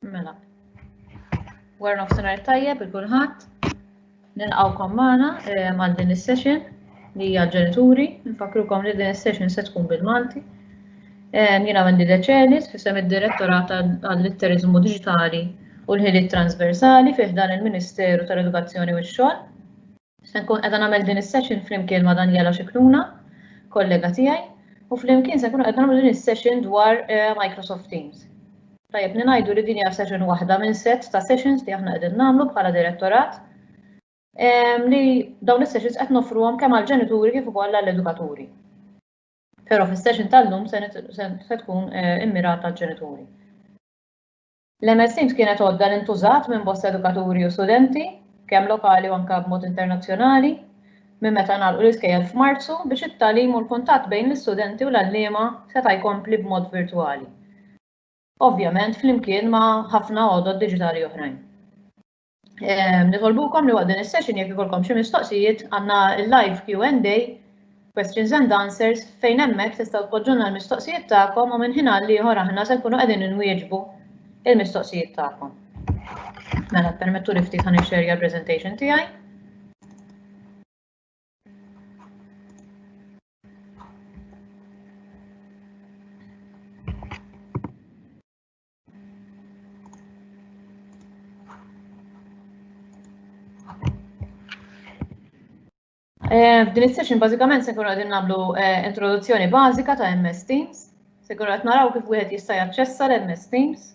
Mela. War nofsinhar tajjeb il kulħadd. Nilqgħukom magħna għal din is-session li hija ġenituri. Nfakrukom li din is-session se tkun bil-Malti. Jiena Wendy Deċelis fisem id-Direttorat għall-Litteriżmu Diġitali u l-Ħiliet Transversali fi ħdan il-Ministeru tal-Edukazzjoni u x-Xogħol. Se nkun qed nagħmel din is-session flimkien ma' Daniela Scicluna, kollega tiegħi, u flimkien se nkunu qed nagħmlu din is-session dwar Microsoft Teams. Tajjeb li ngħidu li din hija session waħda minn set ta' sessions li aħna qegħdin nagħmlu bħala direttorat ehm, li dawn is-sessions qed nofruhom kemm għall-ġenituri kif ukoll għall-edukaturi. Però fis-session tal-lum se tkun eh, immirata għall-ġenituri. L-MS Teams kienet għodda li ntużat minn bosta edukaturi u studenti, kemm lokali u anka b'mod internazzjonali, minn meta nagħlqu l-iskejjel f'Marzu biex it-talim u l-kuntatt bejn l-istudenti u l-allima seta' jkompli b'mod virtwali. ovvjament flimkien ma' ħafna għodod diġitali oħrajn. Ehm, nitolbukom li waqt din is-session jekk ikolkom xi mistoqsijiet għandna live Q&A, questions and answers, fejn hemmhekk tistgħu tpoġġuna l-mistoqsijiet tagħkom u minn ħin għal ieħor aħna se nkunu qegħdin inwieġbu il-mistoqsijiet tagħkom. Mela permettu li ftit ħan ixxerja l-presentation tiegħi. Eh, f'din is-session bażikament se nkunu qegħdin nagħmlu eh, introduzzjoni bażika ta' MS Teams. Se nkunu qed naraw kif wieħed jista' jaċċessa l-MS Teams.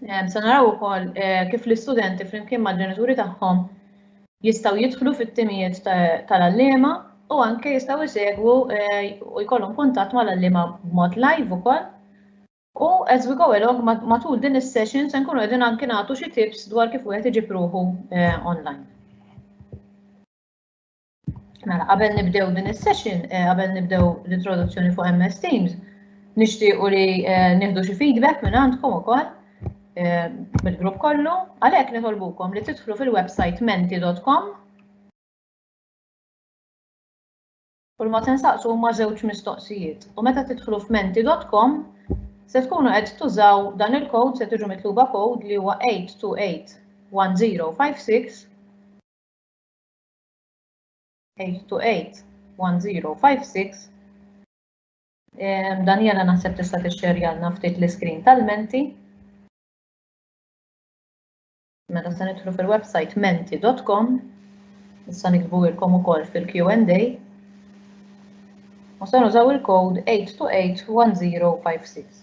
Se naraw ukoll eh, kif l-istudenti flimkien mal-ġenituri tagħhom jistgħu jidħlu fit-timijiet tal-allima u anke jistgħu jsegwu eh, u jkollhom kuntatt mal-allima b'mod live ukoll. U as we go along matul din is-session se nkunu qegħdin anke nagħtu xi tips dwar kif wieħed iġib ruħu eh, online. Mela, qabel nibdew din is-session, eh, qabel nibdew l-introduzzjoni fuq MS Teams, nixtiequ li eh, nieħdu xi feedback minn għandkom ukoll eh, mill-grupp kollu, għalhekk nitolbukom li tidħlu fil-website menti.com u ma tensaqsu huma żewġ mistoqsijiet. U meta tidħlu f'menti.com se tkunu qed tużaw dan il-kod se tiġu mitluba kod li huwa 8281056 8281056 Daniela naħseb tista' tixxerjalna ftit l-iskrin tal-menti. Meta se nidħlu fil-website menti.com, issa nikbu ilkom ukoll fil-Q&A. U se nużaw il-kod 8281056.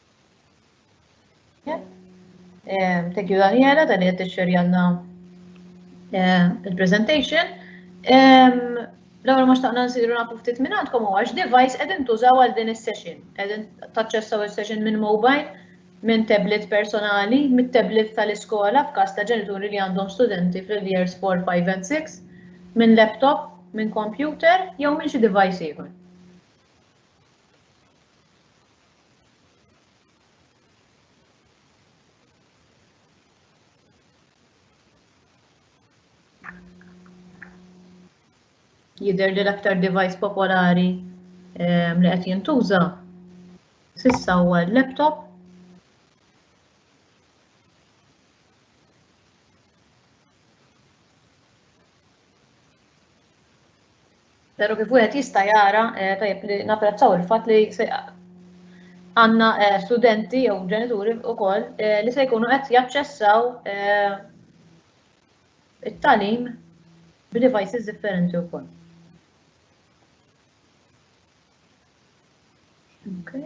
Eh, thank you Daniela, dan qed tixxerjanna eh, il-presentation. L-ewwel ma xtaqna nsiru nafu ftit minn għandkom huwa x'device qegħdin tużaw għal din is-session. Qegħdin taċċessaw is-session minn mobile, minn tablet personali, mit-tablet tal-iskola f'każ ta' ġenituri li għandhom studenti fil-years 4, 5 and 6, minn laptop, minn computer jew minn xi device ieħor. Jidher li l-aktar device popolari ehm, li qed jintuża sissa huwa l-laptop. Pero kif wieħed jista' jara eh, tajjeb li napprezzaw il-fatt li għandna eh, studenti jew ġenituri wkoll eh, li se jkunu qed jaċċessaw it-talim b'devices differenti wkoll. Okay.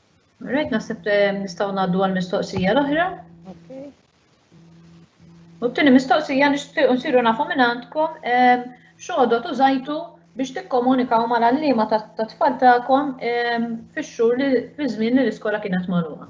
Rajt naħseb eh, nistgħu ngħaddu għal mistoqsija l-oħra. U t-tieni mistoqsija nixtiequ nsiru nafu minn għandkom eh, xogħodot użajtu biex tikkomunikaw mal-għalliema tat-tfal tagħkom eh, fix-xhur li fi żmien li l-iskola kienet magħluqa.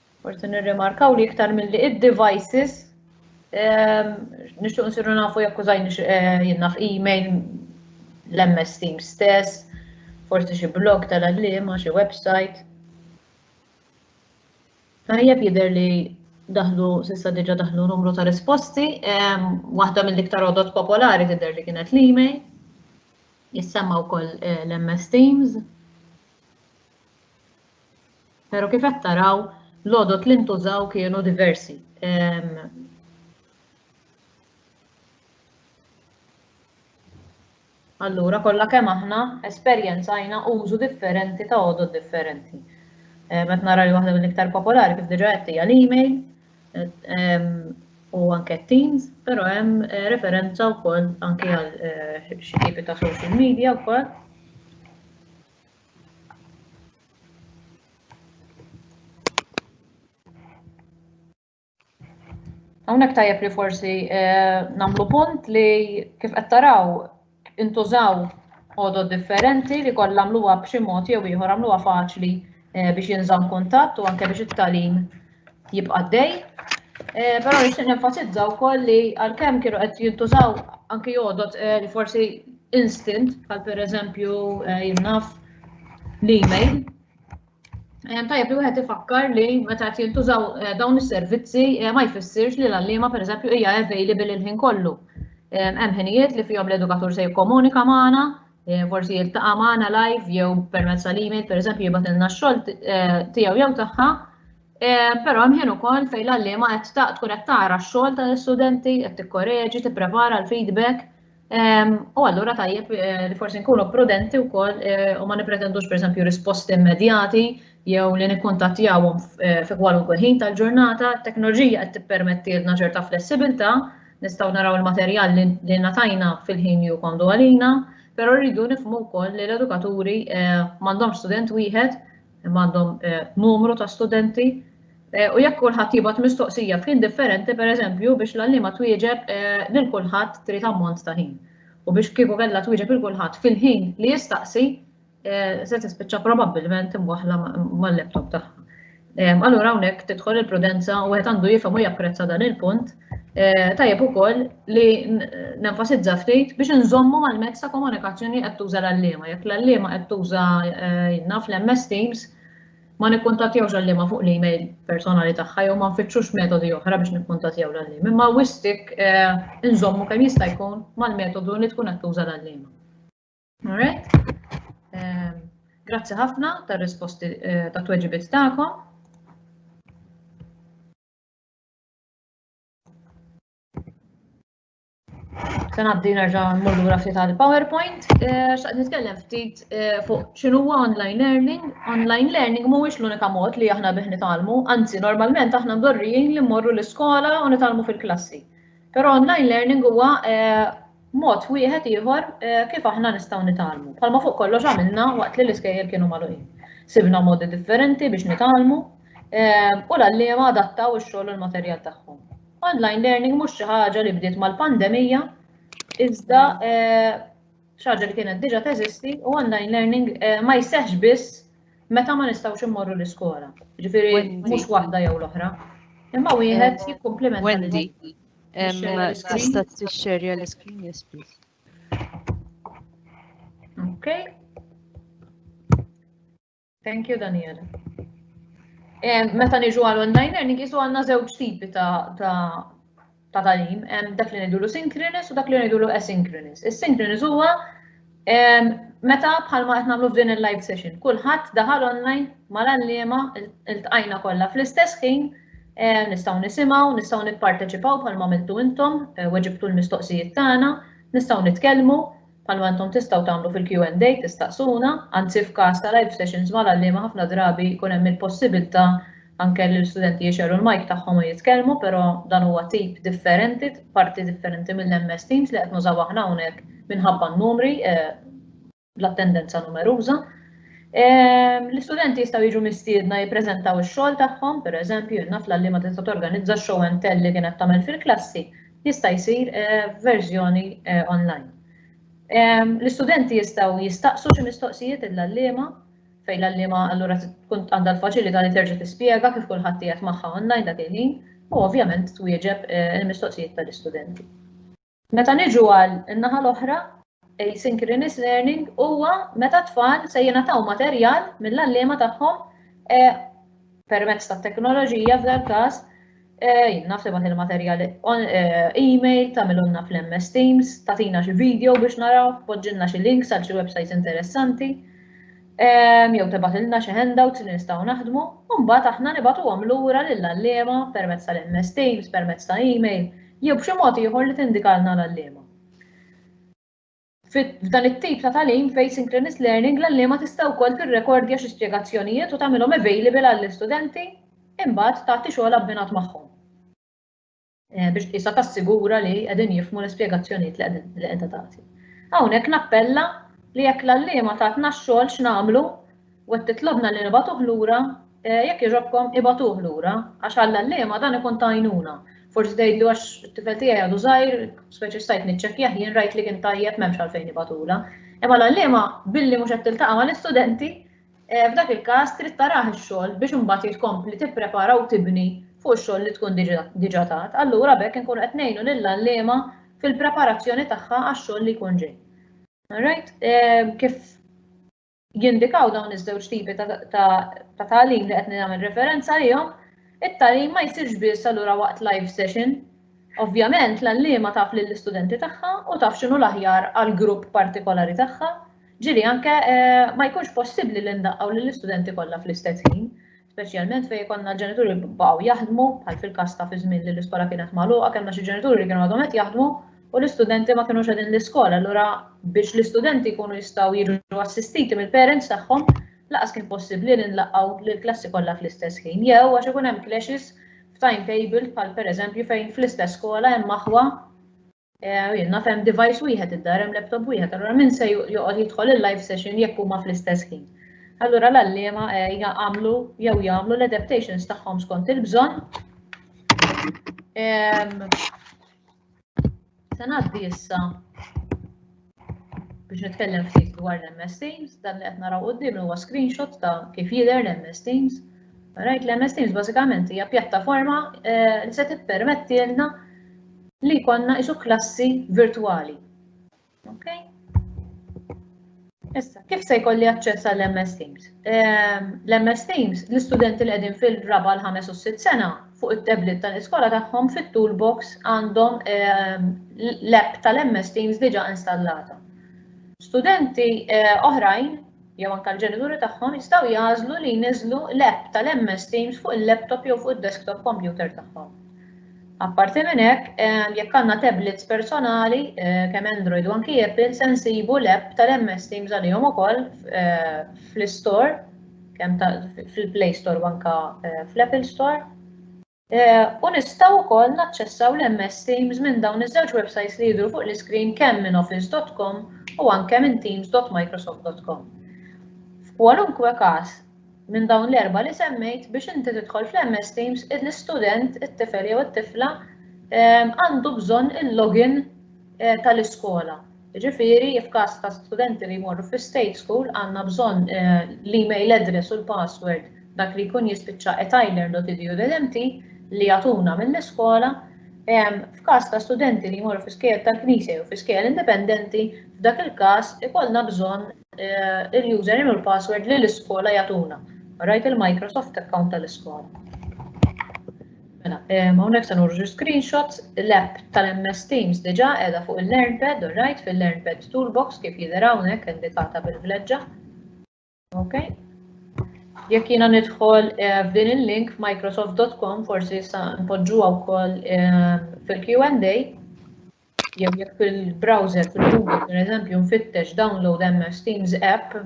Forsi nirrimarkaw li iktar milli id-devices ehm, nixtuq nsiru nafu jekk użajn eh, jinnaf email l-MS Teams stess, forsi xi blog tal-għallima, xi website. Tajjeb jidher li daħlu, sissa diġa daħlu numru ta' risposti, waħda mill-iktar odot popolari tidher li kienet l-email, jissemma wkoll eh, l-MS Teams. Pero kif qed taraw, l-għodod li ntużaw kienu diversi. Allura, kollha kemm aħna esperjenzajna użu differenti ta' għodod differenti. Eh, met nara li waħda mill-iktar popolari kif diġa qed hija l-email eh, u anke Teams, però hemm eh, referenza wkoll anke għal xi tipi ta' social media wkoll. Hawnhekk tajjeb li forsi eh, nagħmlu punt li kif qed taraw intużaw għodod differenti li kollha għamluha b'xi mod jew ieħor għamluha faċli eh, biex jinżamm kuntatt u anke biex it-talim jibqa' għaddej. Eh, però nixtieq nenfasizza wkoll li għalkemm kienu qed jintużaw anki jodot eh, li forsi instant bħal pereżempju eh, jinnaf l-email. Tajjeb li wieħed ifakkar li meta qed jintużaw dawn is-servizzi ma jfissirx li l-għalliema pereżempju hija available il-ħin kollu. Hemm ħinijiet li fihom l-edukatur se jikkomunika magħna, Eh, forsi jiltaqa' magħna live jew permezz tal-email, pereżempju jibgħatilna x-xogħol eh, tiegħu jew tagħha. Eh, però hemm ħin ukoll fejn l-għalliema qed tkun qed tara x-xogħol tal-istudenti, qed tikkoreġi, tipprepara l-feedback. Ehm, u allura tajjeb li forsi nkunu prudenti wkoll u ma nipretendux pereżempju risposti immedjati jew li nikkuntattjawhom fi kwalunkwe ħin tal-ġurnata, t-teknoloġija qed tippermettilna ċerta flessibilità, Nistgħu naraw il-materjal li natajna fil-ħin li jkondu għalina, però rridu nifmu wkoll li l-edukaturi eh, m'għandhomx student wieħed, m'għandhom eh, numru ta' studenti, eh, u jekk kulħadd jibgħat mistoqsija f'ħin differenti, pereżempju, biex l-għallima twieġeb lil kulħadd trid ammont ta' ħin. U biex kieku kellha twieġeb il kulħadd fil-ħin li jistaqsi, se tispiċċa probabbilment imwaħħla mal-laptop tagħha. Allura hawnhekk tidħol il-prudenza u wieħed għandu jifhem u japprezza dan il-punt eh, tajjeb ukoll li nenfasizza ftit biex nżommu mal-mezz ta' komunikazzjoni qed tuża l-allima. Jekk l-allima qed tuża eh, naf l-MS Teams, ma nikkuntattjawx l-allima fuq l-email personali tagħha jew ma nfittxux metodi oħra biex nikkuntattjaw l-allima. Imma wistik eh, nżommu kemm jista' jkun mal-metodu li tkun qed tuża l-allima. Alright. Ehm, grazzi ħafna tar risposti eh, ta' tweġibiet tagħkom. Se ngħaddi nerġa' mmur lura ftit għall-PowerPoint. Eh, x'qed nitkellem ftit eh, fuq x'inhuwa online learning. Online learning mhuwiex l-unika mod li aħna bih nitalmu, anzi normalment aħna mdorrijin li mmorru l-iskola u nitalmu fil-klassi. Però online learning huwa eh, Mod wieħed ieħor kif aħna nistgħu nitgħallmu, bħalma fuq kollox għamilna waqt li l-iskejjel kienu magħluqin. Sibna modi differenti biex nitgħallmu u l-għalliema adattaw ix-xogħol u l-materjal tagħhom. Online learning mhux xi ħaġa li bdiet mal-pandemija, iżda xi ħaġa li kienet diġà teżisti u online learning ma jseħħx biss meta ma nistgħux immorru l-iskola. Ġifieri mhux waħda jew l-oħra. Imma wieħed jikkumplimenta. Tista' tixxerja l-iskrin, yes please. Okay. Thank you, Daniela. Meta niġu għal online learning, jisu għanna żewġ tipi ta' ta' talim, dak li ngħidulu synchronous u dak li ngħidulu asynchronous. Is-synchronous huwa Meta bħalma qed nagħmlu f'din il-live session, kulħadd daħal online mal-għalliema iltqajna kollha fl-istess ħin nistgħu nisimgħu, nistgħu nipparteċipaw bħalma għamiltu intom, eh, weġibtu l-mistoqsijiet tagħna, nistgħu nitkellmu bħalma intom tistgħu tagħmlu fil-Q&A tistaqsuna, anzi f'każ ta' live sessions mal-għalliema ħafna drabi jkun hemm il-possibilità Anke l-istudenti jixgħelu l-mike tagħhom u jitkellmu, però dan huwa tip differenti, parti differenti mill-MS Teams li qed nużaw aħna hawnhekk minħabba n-numri, l-attendenza numeruża. L-istudenti jistgħu jiġu mistiedna jippreżentaw ix-xogħol tagħhom, pereżempju, naf l ma tista' torganizza show and tell li kienet tagħmel fil-klassi, jista' jsir verżjoni online. L-istudenti jistgħu jistaqsu xi mistoqsijiet lill-għalliema, fejn l-għalliema allura tkun għandha l-faċilità li terġa' tispjega kif kulħadd qiegħed magħha online dak il-ħin u ovvjament twieġeb eh, il-mistoqsijiet tal-istudenti. Meta niġu għal in-naħa l-oħra, asynchronous learning huwa meta tfal se jingħataw materjal mill-għalliema tagħhom eh, permezz tat-teknoloġija f'dal każ Eh, jien naf tibgħat il-materjal eh, email, tagħmilunna fl-MS Teams, tagħtina xi video biex naraw, poġġilna xi links għal xi websites interessanti. Eh, jew tibgħat ilna xi handouts li nistgħu naħdmu, u mbagħad aħna nibgħatuhom lura lill-għalliema permezz tal-MS Teams, permezz ta' email, jew b'xi mod ieħor li tindikalna l-għalliema. F'dan it-tip ta' tagħlim f'asynchronous learning l-għalliema tista' wkoll tirrekordja xi spjegazzjonijiet u tagħmilhom available għall-istudenti imbagħad tagħti xogħol abbinat magħhom biex tqisha tassigura li qegħdin jifhmu l-ispjegazzjonijiet li qiegħda tagħti. Hawnhekk nappella li jekk l-għalliema tatna x-xogħol x'nagħmlu U qed titlobna li nibagħtuh lura? Jekk jogħġobkom, ibagħtuh lura, għax għall-għalliema dan ikun ta' għajnuna. Forsi tgħidlu għax it-tifel tiegħi għadu żgħir, speċi stajt niċċekkjah jien rajt li kien tajjeb m'hemmx għalfejn nibagħtulha. Imma l-għalliema billi mhux qed tiltaqa' mal-istudenti, eh, f'dak il-każ trid tarah ix-xogħol biex imbagħad jrid tkompli tipprepara u tibni fuq ix-xogħol li tkun diġà tat. Allura b'hekk inkunu qed ngħinu lill-għalliema fil-preparazzjoni tagħha għax-xogħol li jkun ġej. Alright, eh, kif jindikaw dawn iż-żewġ tipi ta' tagħlim li qed nagħmel referenza għalihom, it-tagħlim ma jsirx biss allura waqt live session. Ovvjament l-għalliema taf lill-istudenti tagħha u taf x'inhu l-aħjar għal grupp partikolari tagħha, ġieli anke eh, ma jkunx possibbli li ndaqqgħu lill-istudenti kollha fl-istess ħin. speċjalment fejn ikollna l-ġenituri li baqgħu jaħdmu, bħal fil-każ ta' fi żmien li l-iskola kienet magħluqa, kellna xi ġenituri li kienu għadhom qed jaħdmu u l-istudenti ma kinux qegħdin l-iskola. Allura biex l-istudenti jkunu jistgħu jiġu assistiti mill-parents tagħhom, laqas kien possibbli li nlaqgħu lill-klassi kollha fl-istess ħin. Jew għax ikun hemm clashes f'timetable bħal pereżempju fejn fl-istess skola hemm aħwa Eh, naf hemm device wieħed id-dar, hemm laptop wieħed, allura min se joqgħod jidħol il-live session jekk huma fl-istess ħin. Allura l-allima eh, jagħmlu jew jagħmlu l-adaptations tagħhom skont il-bżonn. Se ngħaddi issa Biex nitkellem ftit dwar l-MS Teams, dan li qed naraw quddiem huwa screenshot ta' kif jidher l-MS Teams. Rajt l-MS Teams bażikament hija pjattaforma eh, li se tippermettilna li jkollna isu klassi virtwali. Okay? Issa, kif se jkolli aċċess għall ms Teams? Ehm, L-MS Teams, l-istudenti li qegħdin fil-raba l-ħames u s-sitt sena, fuq it-tablet tal-iskola tagħhom fit-toolbox għandhom ehm, l-app tal-MS Teams diġà installata. Studenti eh, oħrajn jew anke l-ġenituri tagħhom jistgħu jażlu li jniżlu l-app tal-MS Teams fuq il-laptop jew fuq id-desktop computer tagħhom. Apparti minn hekk, ehm, jekk għandna tablets personali eh, kemm Android u anki Apple se nsibu l-app tal-MS Teams għalihom ukoll eh, fl-istore kemm fil-Play Store u anka eh, fl-Apple Store. Eh, u nistgħu wkoll naċċessaw l-MS Teams minn dawn iż-żewġ websites li jidhru fuq l-iskrin kemm minn office.com u anke minn teams.microsoft.com. F'kwalunkwe każ, minn dawn l-erba li semmejt biex inti tidħol fl-MS Teams, l-istudent, it-tifel jew it-tifla eh, għandu bżonn il-login tal-iskola. Jiġifieri f'każ ta' studenti li jmorru fi state school għandna bżonn l-email address u l-password dak li jkun jispiċċa at ilearn dot edu dot mt li jagħtuna mill-iskola. F'każ ta' studenti li jmorru fi skejjel tal-Knisja jew fi skejjel indipendenti, f'dak il-każ ikollna bżonn il-username u l-password li l-iskola jagħtuna. Rajt il-Microsoft account tal-iskola. Mela, hawnhekk se nurġu screenshots, l-app tal-MS Teams diġà qiegħda fuq il-LearnPad, all right, fil-LearnPad Toolbox kif jidher hawnhekk indikata bil-vleġġa. Ok. Jekk jiena nidħol eh, f'din il-link f'microsoft.com forsi sa npoġġuha wkoll eh, fil-Q&A jew jekk fil-browser fil-Google pereżempju nfittex download MS Teams app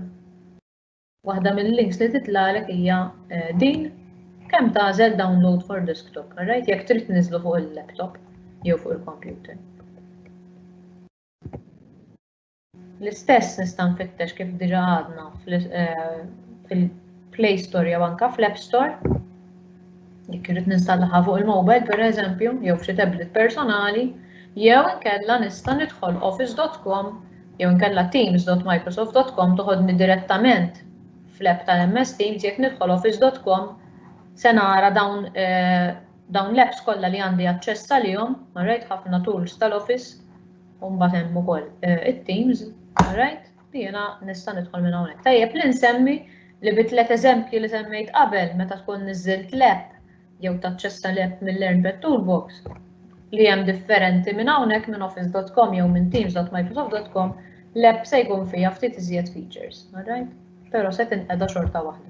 Waħda mill-links li titlagħlek hija eh, din kemm tagħżel download for desktop, right? Jekk trid niżlu fuq il-laptop jew fuq il-computer. L-istess nista' nfittex kif diġa għadna eh, fil-Play Store jew anka fl-App Store. Jekk irid ninstallaha fuq il-mobile pereżempju jew f'xi tablet personali, jew inkella nista' nidħol office.com Jew inkella teams.microsoft.com toħodni direttament fl-app tal-MS Teams jekk nidħol office.com se nara dawn dawn l-apps kollha li għandi aċċess għalihom, alright, ħafna tools tal-office, u mbagħad hemm ukoll it-teams, alright, li jiena nista' nidħol minn hawnhekk. Tajjeb li nsemmi li bi tliet eżempji li semmejt qabel meta tkun niżilt l-app jew taċċessa l-app mill-Learn Bad Toolbox, li hemm differenti minn hawnhekk minn office.com jew minn teams.microsoft.com, l-app se jkun fiha ftit iżjed features, alright? Però se tinqeda xorta waħda.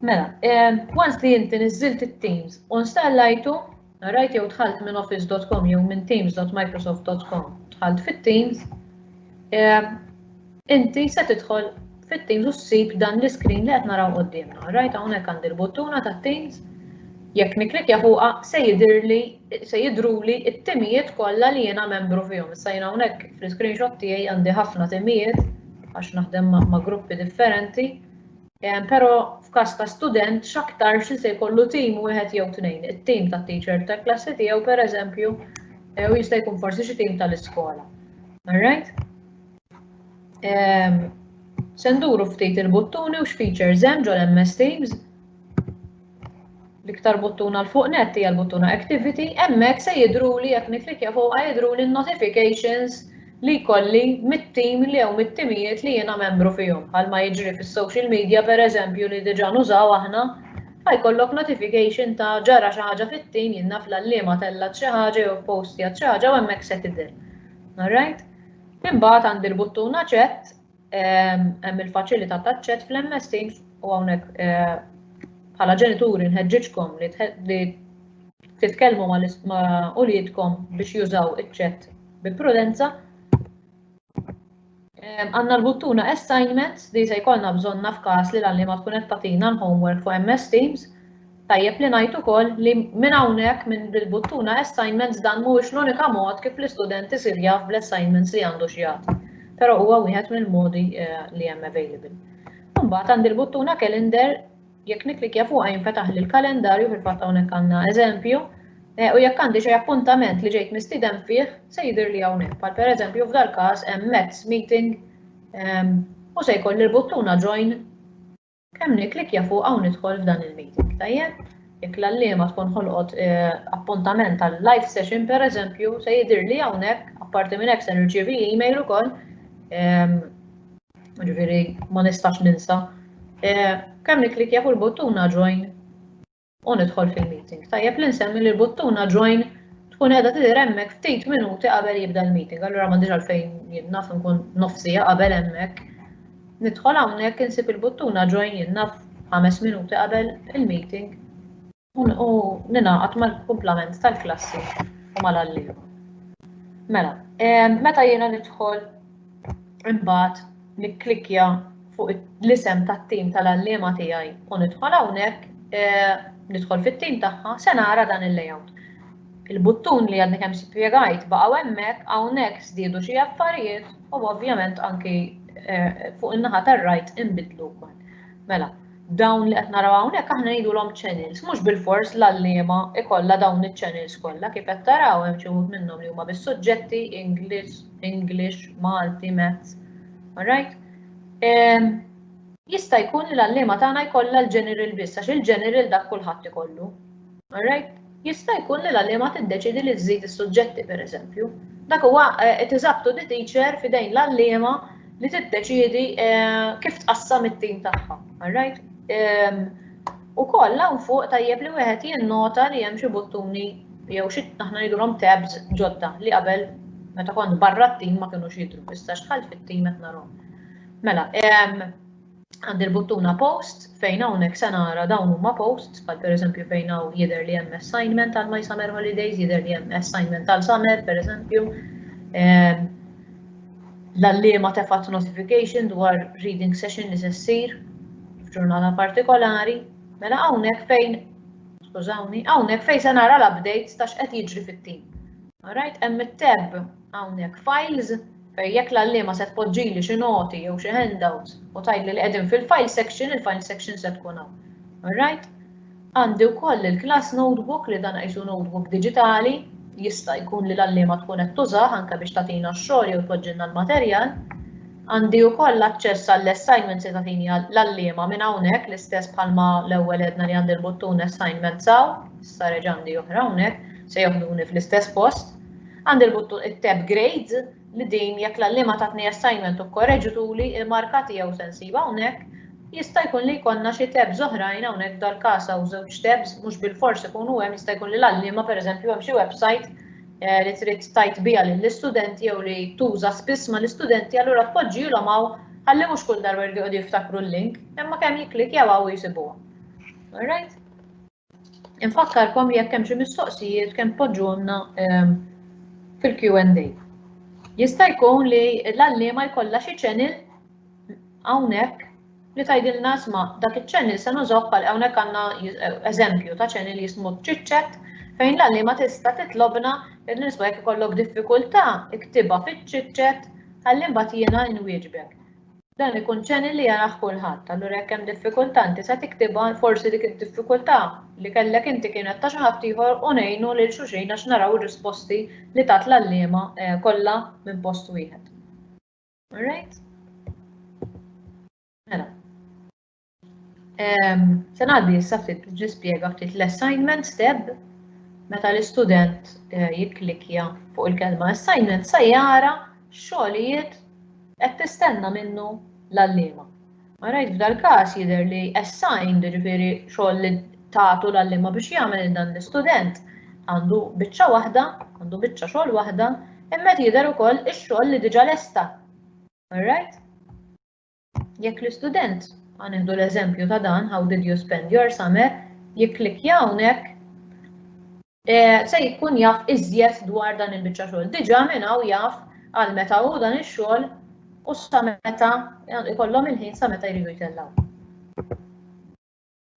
Mela, eh, once li inti niżilt it-Teams u installajtu, Qrajt jew dħalt minn office.com jew minn teams.microsoft.com, dħalt fit-Teams, eh, inti se tidħol fit-Teams u ssib dan l-iskrin li qed naraw qudiemna. Rajt hawnhekk għandi l-buttuna ta' Teams, jekk niklikja fuqha se jidirli se jidruli t-timijiet kollha li jiena membru fihom. Issa jiena hawnhekk fl-screenshot tiegħi għandi ħafna timijiet għax naħdem ma' gruppi differenti. Però f'każ ta' student x'aktarx li se jkollu tim wieħed jew tnejn, it-tim tat-teacher tal-klassi tiegħu pereżempju, jew jista' jkun forsi xi tim tal-iskola. Alright? Se nduru ftit il-buttuni u x'features hemm ġol-MS Teams. l-iktar buttuna l-fuq net hija l-buttuna Activity, hemmhekk se jidruli jekk niklikja fuqha jidruli n-notifications li jkolli mit-tim li jew mit-timijiet li jiena membru fihom. Bħalma jiġri fis-social media pereżempju li diġà nużaw aħna, fa jkollok notification ta' ġara xi ħaġa fit-tim, jien naf l-għalliema tellgħet xi ħaġa jew ppostjat xi ħaġa u hemmhekk se tidher. Alright? Imbagħad għandi l-buttuna Chat Hemm il-faċilità ta' ċett fl-MST u hawnhekk bħala ġenituri nħeġġiġkom li titkellmu ma' uliedkom biex jużaw iċ-ċett bi prudenza. Għanna l-buttuna assignments li se jkollna bżonna f'każ li l-għallima tkun qed tagħtina l-homework fuq MS Teams Tajjeb li ngħid ukoll li minn hawnhekk, minn bil-buttuna Assignments, dan mhuwiex l-unika mod kif l-istudent isir jaf bl-assignments li għandu x'jagħti, però huwa wieħed mill-modi li hemm available. Imbagħad għandi l-buttuna Calendar, jekk nikklikkja fuqha jinfetaħli l-kalendarju, fil-fatt hawnhekk għandna eżempju, u jekk għandi xi appuntament li ġejt mistieden fih se jidhirli hawnhekk, bħal pereżempju f'dal-każ hemm METS meeting u se jkolli l-buttuna Join Kemm nikklikkja fuqha u nidħol f'dan il-meeting, tajjeb? Jekk l-għalliema tkun ħolqot eh, appuntament tal live session pereżempju, se jidhirli hawnhekk, apparti minn hekk se nirċievi email ukoll. Ehm, ġifieri ma nistax ninsa. Eh, kemm nikklikkja fuq il-buttuna join u nidħol fil-meeting. Tajjeb li nsemmi li l-buttuna join tkun qiegħda tidher hemmhekk ftit minuti qabel jibda l-meeting. Allura m'għandix għalfejn jien naf nkun nofsija qabel hemmhekk. Nidħol hawnhekk insib il-buttuna join jien naf ħames minuti qabel il-meeting u ninaqat mal-kumplament tal-klassi u mal-għalliema. Mela, meta jiena nidħol Imbagħad nikklikja fuq l-isem tat-tim tal-għalliema tiegħi u nidħol hawnhekk, eh, nidħol fit-tim tagħha, se nara dan il-layout. Il-buttun li għadni kemm spjegajt baqgħu hemmhekk hawnhekk żdiedu xi affarijiet u ovvjament anki eh, fuq in-naħa tar-rajt inbidlu wkoll. Mela, dawn li qed naraw hawnhekk aħna ngħidulhom channels, mhux bilfors l-għalliema ikollha dawn iċ-channels kollha kif qed taraw hemm xi wħud minnhom li huma bis-suġġetti English, English, Malti, Maths. Alright? Jista' jkun li l-għalliema tagħna jkollha l-general biss għax il-general dak kulħadd ikollu. Alright? Jista' jkun li l-għalliema tiddeċiedi li żżid is-suġġetti, pereżempju. Dak huwa it is up to the teacher, f'idejn l-għalliema li tiddeċiedi kif tqassam it-tim tagħha. All right? Ukoll hawn fuq tajjeb li wieħed jinnota li hemm xi buttuni jew xi aħna ngħidulhom tabs ġodda li qabel meta kont barra t-tim ma kinux jidhru, issa xħalt fit-tim qed narhom. Mela, Għandi l-buttuna post fejn hawnhekk se nara dawn huma posts bħal pereżempju fejn hawn jidher li hemm assignment għal my summer holidays, jidher li hemm assignment għal summer pereżempju. Ehm, l-allima tefat notification dwar reading session li se ssir f'ġurnata partikolari, mela hawnhekk fejn skużawni, hawnhekk fejn se nara l-updates ta' x'qed jiġri fit-tim. Alright, hemm it-tab hawnhekk files Fej jekk l-għalliema se tpoġġili xi noti jew xi handouts u tgħidli li qegħdin fil-file section, il-file section se tkun hawn. Alright? Għandi wkoll il-class notebook li dan qisu notebook diġitali, jista' jkun li l-għalliema tkun qed tużah anke biex tagħtina x-xogħol jew tpoġġilna l-materjal. Għandi wkoll aċċess għall-assignments li tagħtini l-għalliema minn hawnhekk l-istess bħalma l-ewwel għedna li għandi l-buttun assignments hawn, issa reġa' għandi oħra hawnhekk, se joħduni fl-istess post. Għand il-buttun it-tab Grades li din jekk l-għalliema tatni assignment u kkorreġituli l-marka tiegħu se nsibha hawnhekk, jista' jkun li jkollna xi tabs oħrajn hawnhekk f'dal-każ hawn żewġ tabs mhux bilfors ikunu hemm jista' jkun li l-għalliema pereżempju hemm xi website li trid tgħid biha lill-istudenti jew li tuża spiss mal-istudenti allura tpoġġihilhom hawn ħalli mhux kull darba jridu jqogħdu jiftakru l-link imma kemm jikklikkjaw hawn jsibuha. Alright? Infakkarkom li jekk hemm xi mistoqsijiet kemm tpoġġuhomna ehm, fil-Q&A. Jista' jkun li l-għalliema jkollha xi channel hawnhekk li tgħidilna sma' dak iċ-channel se nużok għal hawnhekk għandna eżempju ta' channel jismu ċiċċet fejn l-għalliema tista' titlobna li nisma' jekk ikollok diffikultà iktibha fiċ-ċiċċet ħalli mbagħad jiena nwieġbek. Dan ikun channel li jarah kulħadd, allura jekk hemm diffikultà inti se tiktibha, forsi dik id-diffikultà li kellek inti kienet ta' xi ħadd ieħor u ngħinu lil xulxin għax naraw ir-risposti li tat l-għalliema kollha minn post wieħed. Alright? Mela. Se ngħaddi issa ftit biex nispjega ftit l-assignment step meta l-istudent eh, jikklikja fuq il-kelma assignment se jara xogħlijiet qed tistenna minnu l-allima. Ma rajt f'dal-każ jidher li assigned ġifieri xogħol li tagħtu l-allima biex jagħmel dan l-istudent għandu biċċa waħda, għandu biċċa xogħol waħda, imma jidher ukoll ix-xogħol li diġà lesta. Alright? Jekk l-istudent, ħa nieħdu l-eżempju ta' dan, how did you spend your summer, jikklikja hawnhekk, eh, se jkun jaf iżjed dwar dan il-biċċa xogħol. Diġà minn hawn jaf għal meta hu dan ix-xogħol u sa meta ikollhom il-ħin sa meta jridu jtellgħu.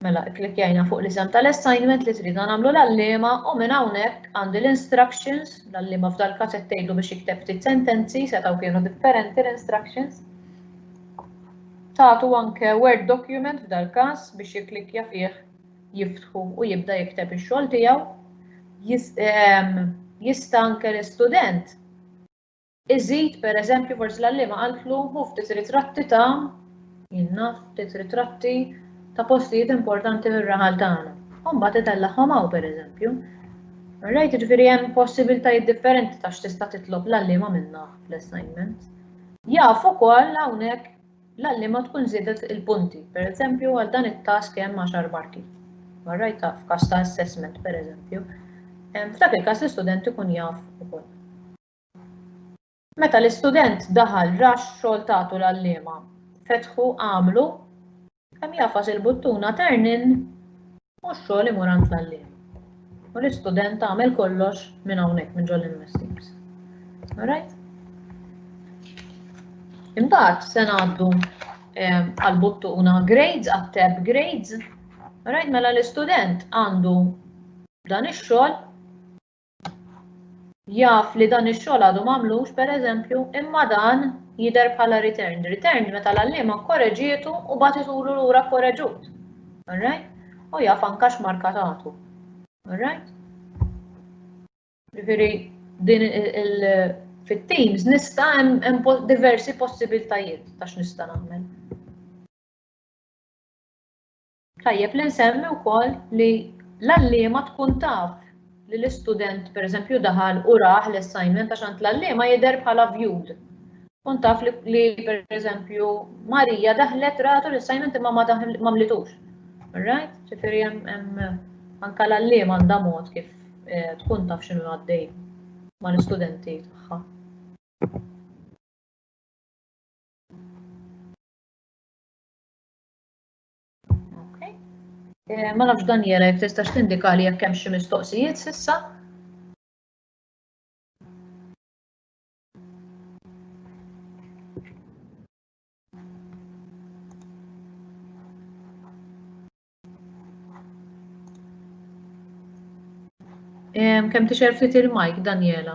Mela ikklikkjajna fuq l-isem tal-assignment li tridna nagħmlu l-għalliema u minn hawnhekk għandi l-instructions, l-għalliema f'dal każ qed tgħidlu biex jikteb ftit sentenzi, setgħu kienu differenti l-instructions. Tagħtu anke word document f'dal każ biex jikklikkja fih jiftħu u jibda jikteb ix-xogħol tiegħu. Jista' anke l-istudent Iżid, per eżempju, forsi l-għalliema qaltlu hu ftit ritratti ta' jien naf, ftit ritratti ta' postijiet importanti mir-raħal tagħna. U mbagħad itellagħhom hawn, per eżempju. Rajt, jiġifieri hemm possibiltajiet differenti ta' x'tista' titlob l-għalliema minnha fl-assignment. Jaf ukoll hawnhekk l-għalliema tkun żiedet il-punti, per eżempju għal dan it-task hemm għaxar marki. Ma rajtha f'każ ta' assessment, per eżempju. F'dak il-każ l-istudent ikun jaf ukoll. Meta l-istudent daħal rax xogħol tagħtu l-għalliema. Fetħu, għamlu, kemm jafas il-buttuna turn in u x-xogħol imur għand l-għalliem. U l-istudent għamel kollox minn hawnhekk minn ġol MS Teams. Alright? Imbagħad se ngħaddu eh, għal-buttuna grades, għat-tab grades. Alright, mela l-istudent għandu dan ix-xogħol jaf li dan ix-xogħol għadu m'għamlux pereżempju, imma dan jidher bħala returned. Returned meta l-għalliema kkoreġietu u bagħtitulu lura kkoreġut. Alright? U jaf anka x'marka tagħtu. Alright? Ġifieri din il fit-teams nista' hemm diversi possibiltajiet ta' x'nista' nagħmel. Tajjeb li nsemmi wkoll li l-għalliema tkun taf li l-istudent pereżempju daħal u raħ l-assignment għax għand l-għalliema jidher bħala viewed. Tkun taf li pereżempju Marija daħlet ratu l-assignment imma ma mlitux. Right? Ġifieri hemm anke l-għalliema għandha mod kif eh, tkun taf x'inhu għaddej mal-istudenti tagħha. Eh, ma nafx Daniela jekk tistax tindika li jekk hemm xi mistoqsijiet s'issa. Kemm tixer ftit il-mike, Daniela?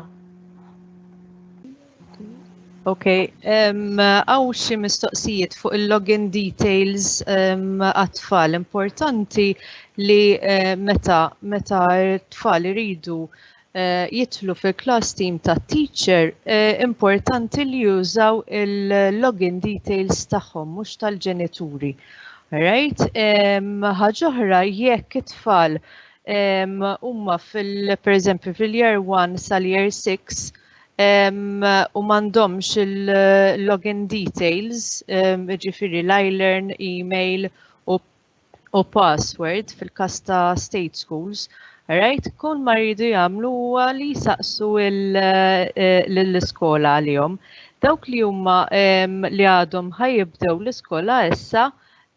Ok, għaw um, xi mistoqsijiet fuq il-login details għat-tfal. Importanti li uh, meta meta t-tfal iridu uh, jitlu fil-class team ta' teacher, uh, importanti li jużaw il-login details tagħhom mhux tal-ġenituri. Right? Ħaġoħra jekk it-tfal huma fil-pereżempju fil-year 1 sal-year 6 u m'għandhomx il-login details, ġifiri l-iLearn, email u password fil-kas ta' state schools, right? Kull ma jridu jagħmlu huwa li jsaqsu l-iskola għalihom. Dawk li huma li għadhom ħajibdew l-iskola issa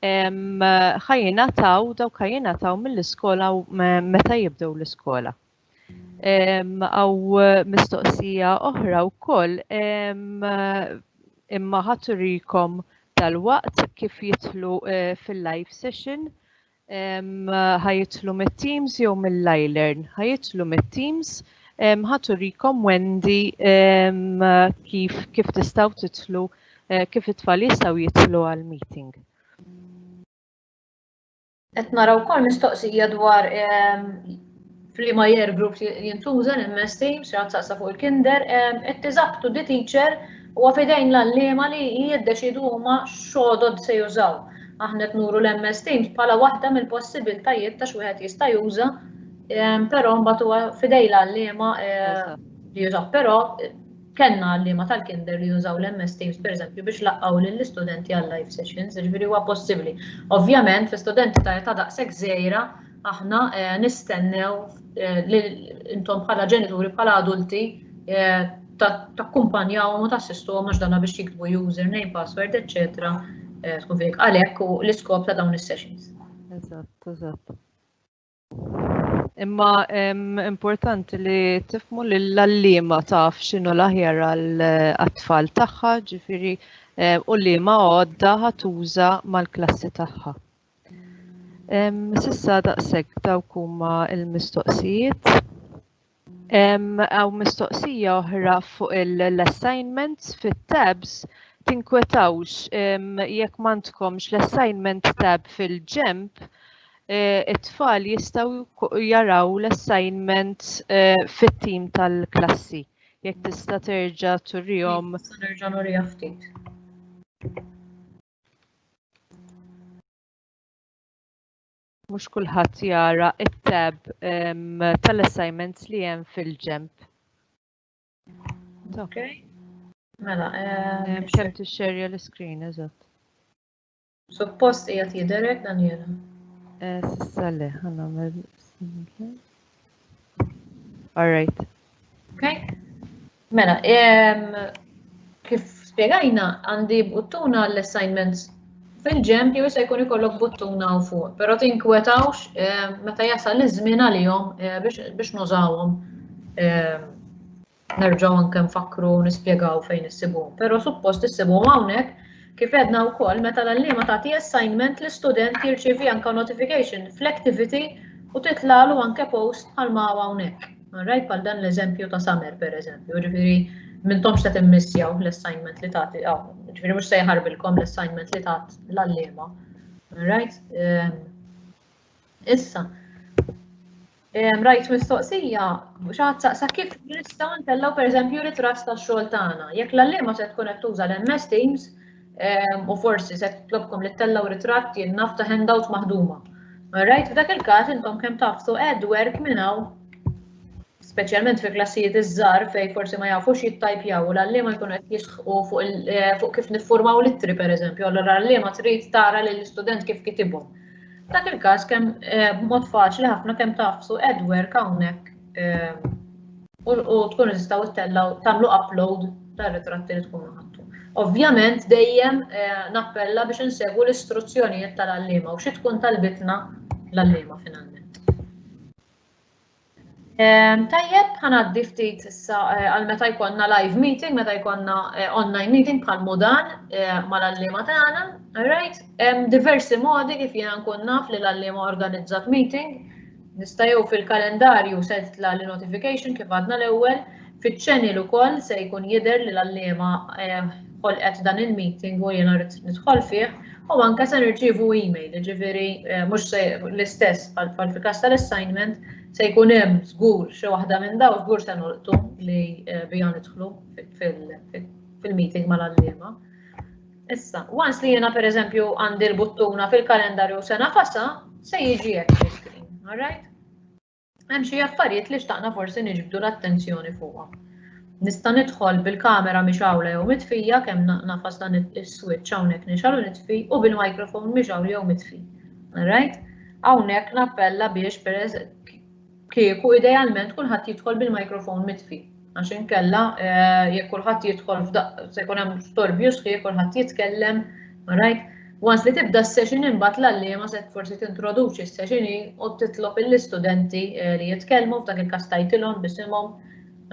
ħajjina taw, dawk ħajjina taw mill-iskola meta jibdew l-iskola. Għaw mistoqsija oħra u koll, imma ħaturikom tal-waqt kif jitlu eh, fil-live session, ħajitlu mit-teams jew mill-lajlern, ħajitlu mit-teams, ħaturikom Wendy kif kif tistaw titlu, eh, kif it-tfal jistaw jitlu għal-meeting. Qed nara wkoll mistoqsija dwar ehm, f'liema year group jintuża l-MS Teams, xi saqsa fuq il-kinder, ehm, qed tiżabtu di teacher u għafidejn l-allima li jiddeċidu huma xodod se jużaw. Aħna qed nuru l-MS Teams bħala waħda mill-possibiltajiet ta' x'wieħed jista' juża, ehm, però mbagħad huwa fidej l-allima eh, li jużaw. Però Kellna għalliema tal-kinder li jużaw l-MS Teams pereżempju biex laqqgħu lill-istudenti għal-live sessions, jiġifieri huwa possibbli. Ovvjament fi studenti ta' età daqshekk żgħira aħna eh, nistennew eh, li intom bħala ġenituri bħala adulti eh, takkumpanjawhom u tassistuhom għax dana biex jiktbu username, password, etc. Tkun fik għalhekk u l-iskop ta' dawn is-sessions. Eżatt, eżatt. Imma importanti li tifmu li l-allima taf xinu l-aħjar għal-atfall tagħha, ġifiri u li ma għodda ħatuża mal-klassi tagħha. Sissa daqshekk dawk huma l-mistoqsijiet. Għaw mistoqsija oħra fuq l-assignments fit-tabs tinkwetawx jekk m'għandkomx l-assignment tab fil-ġemp eh, it-tfal jistgħu jaraw l-assignment eh, fit-tim tal-klassi. Jekk tista' terġa' turihom. Nerġa' nurija ftit. mhux kulħadd jara it-tab ehm, tal-assignments li hemm fil-ġemp. Ok. Mela, ehm, xem tixxerja l-screen, eżatt. Suppost hija tidherek Daniela. Eh, Sissa le, ħanamel. All right. Okay. Mela, kif spiegajna għandi buttuna l-assignments fil-ġemp jew se jkun ikollok buttuna u fuq, però tinkwetawx meta jasal iż-żmien għalihom biex nużawhom Nerġgħu anke nfakkru u nispjegaw fejn issibuhom, però suppost issibuhom hawnhekk kif għedna wkoll meta l-għalliema tagħti assignment li student jirċievi anke notification fl-activity u titlalu anke post bħal ma hawn hawnhekk. Alright, bħal dan l-eżempju ta' summer pereżempju, ġifieri mintomx ta' timmissjaw l-assignment li tagħti, ġifieri mhux se jħarbilkom l-assignment li tat l-għalliema. Alright? Ehm, Issa, rajt mistoqsija, xaħat saqsa kif nistaw ntellaw per eżempju ritras ta' xogħol tagħna. Jekk l-allima se tkun qed tuża l-MS Teams u forsi se tlobkom li tellaw ritratt jien naf ta' handout maħduma. Rajt f'dak il-każ intom kemm tafsu add work minn hawn speċjalment fi klassijiet iż-żgħar fejn forsi ma jafux jittajpjaw u l-għalliema jkunu qed jisħqu eh, fuq kif niffurmaw l-ittri pereżempju, allura l-għalliema trid tara lill istudent kif kitibhom. Dak il-każ kemm eh, b'mod faċli ħafna kemm tafsu Edward hawnhekk eh, u tkun tistgħu ttellaw tagħmlu upload tar-ritratti li tkunu ħadtu. Ovvjament dejjem nappella biex insegwu l-istruzzjonijiet tal-għalliema u xi tkun talbitna l-għalliema finalment. Ehm, tajjeb, ħanaddi ftit issa eh, għal meta jkollna live meeting, meta jkollna eh, online meeting bħal mudan eh, mal-allima tagħna, right? Hemm diversi modi kif jiena nkun naf li l-allima organizzat meeting. Nista' jew fil-kalendarju se titla' li notification kif għadna l-ewwel, fiċ-channel ukoll se jkun jidher li l-allima ħolqet dan il-meeting u jiena rrid nidħol fih u anke se nirċievu email, jiġifieri eh, mhux se l-istess bħal fil-każ tal-assignment se jkun hemm żgur xi waħda minn daw żgur se nolqtu li eh, bija nidħlu fil-meeting mal-għalliema. Issa, once li jiena pereżempju għandi l-buttuna fil-kalendarju sena fasa, se jiġi hekk screen, all right? Hemm xi affarijiet li xtaqna forsi niġbdu l-attenzjoni fuqha. Nista' nidħol bil-kamera mixawla jew mitfija kemm nafas dan is-switch hawnhekk nixgħal u nitfi u bil-microphone mixgħul jew mitfi. Alright? Hawnhekk nappella biex peress kieku idealment kulħadd jidħol bil-microphone mitfi. Għax inkella jekk kulħadd jidħol f'daqq se jkun hemm storbju sħiħ kulħadd jitkellem, right? Once li tibda s-session imbagħad l-għalliema se forsi tintroduċi s-session u titlob lill-istudenti eh, li jitkellmu f'dak il-każ tajtilhom bisimhom,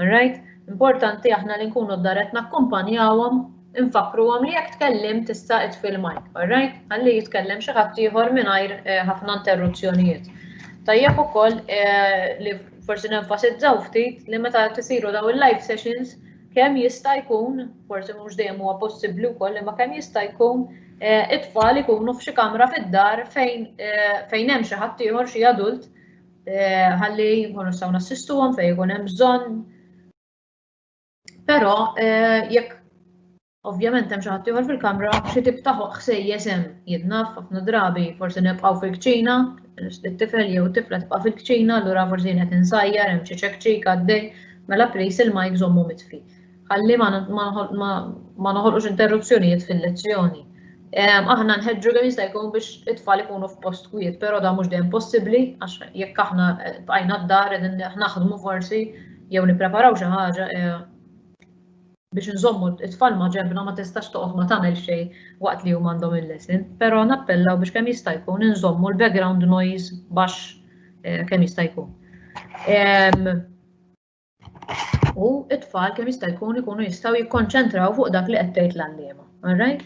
right? Importanti aħna li nkunu d-daret nakkumpanjawhom Infakkruhom li jekk tkellimt tista' itfi l-mike, alright? Ħalli jitkellem xi ħadd ieħor mingħajr eh, ħafna interruzzjonijiet. Tajjeb ukoll eh, li forsi nenfasizzaw ftit li meta tisiru daw il-live sessions kemm jista' jkun, forsi mhux dejjem huwa possibbli wkoll imma kemm jista' jkun eh, it-tfal ikunu f'xi kamra fid-dar fejn eh, fejn hemm xi ħadd ieħor xi adult ħalli jkunu nistgħu nassistuhom fejn ikun hemm bżonn Però eh, jekk Ovvjament hemm xi ħadd ieħor fil-kamra xi tip ta' ħsejjes hemm jidnaf ħafna drabi forsi nibqgħu fil-kċina, it-tifel jew it-tifla tibqa' fil-kċina, allura forsi qed insajjar hemm xi ċekċik għaddej, mela plis il-majk żommu mitfi. Ħalli ma noħolqux interruzzjonijiet fil-lezzjoni. Aħna nħeġġu kemm jista' jkun biex it-tfal ikunu f'post kwiet, però da mhux dejjem possibbli għax jekk aħna bqajna d-dar qegħdin naħdmu forsi jew nippreparaw xi ħaġa eh, biex nżommu it-tfal ma ġembna ma tistax toqgħod ma tagħmel xejn waqt li huma għandhom il-lesson, però nappellaw biex kemm jista' jkun inżommu l-background noise baxx eh, kemm jista' jkun. u it-tfal kemm jista' jkun ikunu jistgħu jikkonċentraw fuq dak li qed tgħid l-għalliema. Alright?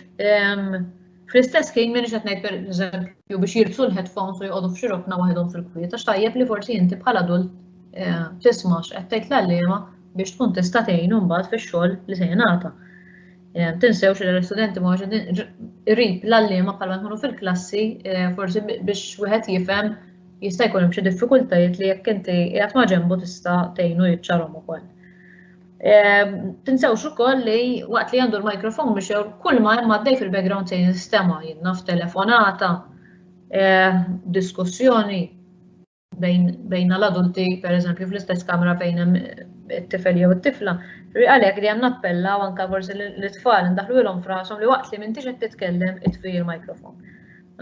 Fl-istess ħin minn qed ngħid pereżempju biex jilbsu l-headphones u jqogħdu f'xi rokna waħedhom fil-kwiet għax tajjeb li forsi inti bħal adult eh, tisma' x'qed tgħid l-għalliema biex tkun tista' tgħin mbagħad fix-xogħol li se jingħata. Eh, tinsewx li l-istudenti ma irrid l-għalliema bħalma nkunu fil-klassi eh, forsi biex wieħed jifhem Jista' jkun hemm xi diffikultajiet li jekk inti qiegħed ma' ġenbu tista' tgħinu jiċċarhom ukoll. Ehm, tinsewx ukoll li waqt li għandu l-mikrofon biex kull ma hemm għaddej fil-background se jinstema' jinnaf telefonata, ehm, diskussjoni bejn l-adulti, per eżempju, fl-istess kamra fejn hemm it-tifel jew it-tifla. Għalhekk li hemm nappella u anke forsi l-itfal ndaħlu ilhom frasom li waqt li m'intix qed titkellem itfi l-mikrofon.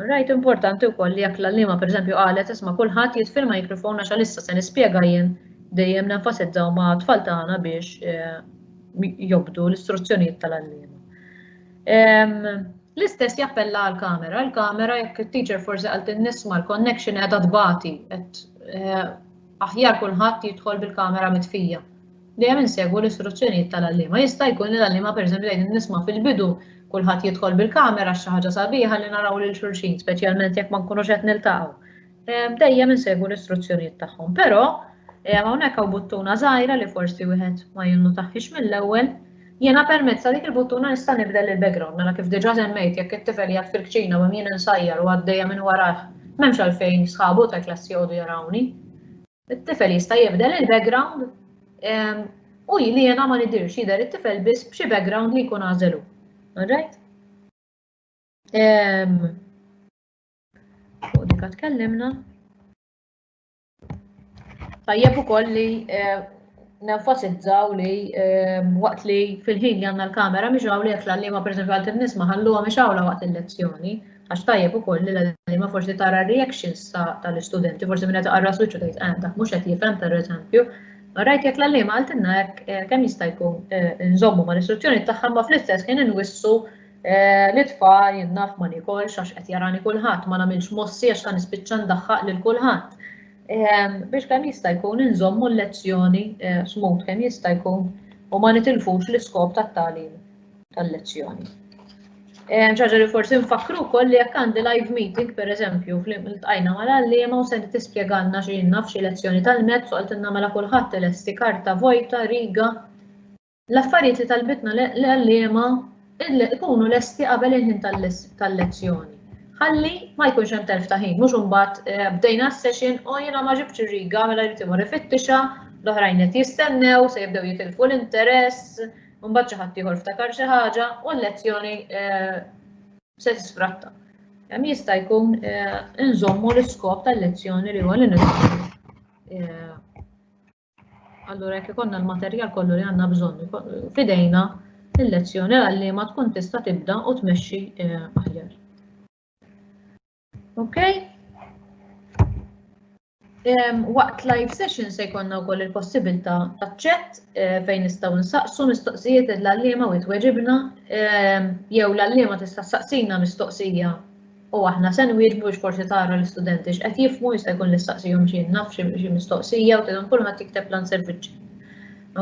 Rajt importanti wkoll li jekk l-għalliema pereżempju qalet isma' kulħadd jitfirma jikrifon għax għalissa se nispjega jien dejjem nenfasizzaw ma' tfal tagħna biex eh, jobdu l-istruzzjonijiet tal-għalliema. L-istess jappella għal kamera l kamera jekk il-teacher forsi għalt nisma l-connection għedha tbati, eh, aħjar kulħadd jidħol bil-kamera mitfija. Dejjem insegwu l-istruzzjonijiet tal-għalliema. Jista' jkun li l-għalliema pereżempju jgħidilna nisma' fil-bidu kulħadd jidħol bil-kamera għax xi ħaġa sabiħa li naraw lil xulxin, speċjalment jekk ma nkunux qed niltaqgħu. Ehm, dejjem insegwu l-istruzzjonijiet tagħhom, però ehm, hawnhekk hawn buttuna żgħira li forsi wieħed ma jinnutaħħiex mill-ewwel. Jiena permezz ta' dik il-buttuna nista' nibdel il-background, mela kif diġà semmejt jekk it-tifel jgħid fil-kċina u jien insajjar u għaddejja minn warajh, m'hemmx għalfejn sħabu ta' klassi jgħodu jarawni. It-tifel jista' jibdel il-background ehm, u li jena ma nidirx jidher it-tifel biss b'xi background li jkun għażelu. Alright? Ehm, fuq dik tkellimna. Tajjeb ukoll li eh, nenfasizzaw li ehm, waqt li fil-ħin li għandna l-kamera mhix hawn li qed l-għalliema pereżempju għal kif nisma' ħalluha mhix hawn waqt il-lezzjoni. Għax tajjeb ukoll li l-għalliema forsi tara reactions tal-istudenti, forsi minn qed qarra switch u tgħid eh, dak mhux qed jifhem pereżempju. Rajt jekk l-għalliema għaltinna hekk eh, kemm jista' jkun eh, nżommu mal-istruzzjoni tagħha ma fl-istess ħin inwissu li tfal jinnaf ma nikolx għax qed jarani kulħadd ma nagħmilx mossi għax ta' nispiċċa ndaħħaq lil kulħadd biex kemm jista' jkun inżommu l-lezzjoni eh, smut kemm jista' jkun u ma nitilfux l-iskop tat-tagħlim tal-lezzjoni. Eh, ċaġa li forsi nfakru wkoll li jekk għandi live meeting, per eżempju, fl-tqajna mal-għalliema u se tispjegalna xi naf xi lezzjoni tal-mezz u għaltinna mela kulħadd elesti karta vojta, riga, L-affarijiet li talbitna l-għalliema ikunu lesti qabel il-ħin tal-lezzjoni. Ħalli ma jkunx hemm telf ta' ħin, mhux imbagħad eh, bdejna s-session u jiena ma ġibtx ir-riga mela jrid imur ifittixa, l-oħrajn qed jistennew se jibdew jitilfu l-interess, mbagħad xi ħadd ieħor ftakar xi ħaġa u l-lezzjoni eh, se tisfratta. Hemm jista' jkun eh, inżommu l-iskop tal-lezzjoni li huwa li eh, Allura jekk ikollna l-materjal kollu li għandna bżonn fidejna, il-lezzjoni għalliema tkun tista' tibda u tmexxi eh, aħjar. Ok? Waqt live session se jkollna wkoll il-possibilità ta' ċett eh, fejn nistgħu nsaqsu mistoqsijiet l-għalliema u jitweġibna jew l-għalliema tista' saqsina mistoqsija U aħna se nwieġbu biex forsi tara l-istudenti x'qed jifhmu, jista' jkun nistaqsihom xi naf xi mistoqsija u tgħidhom kulħadd jikteb l-answer biċċi.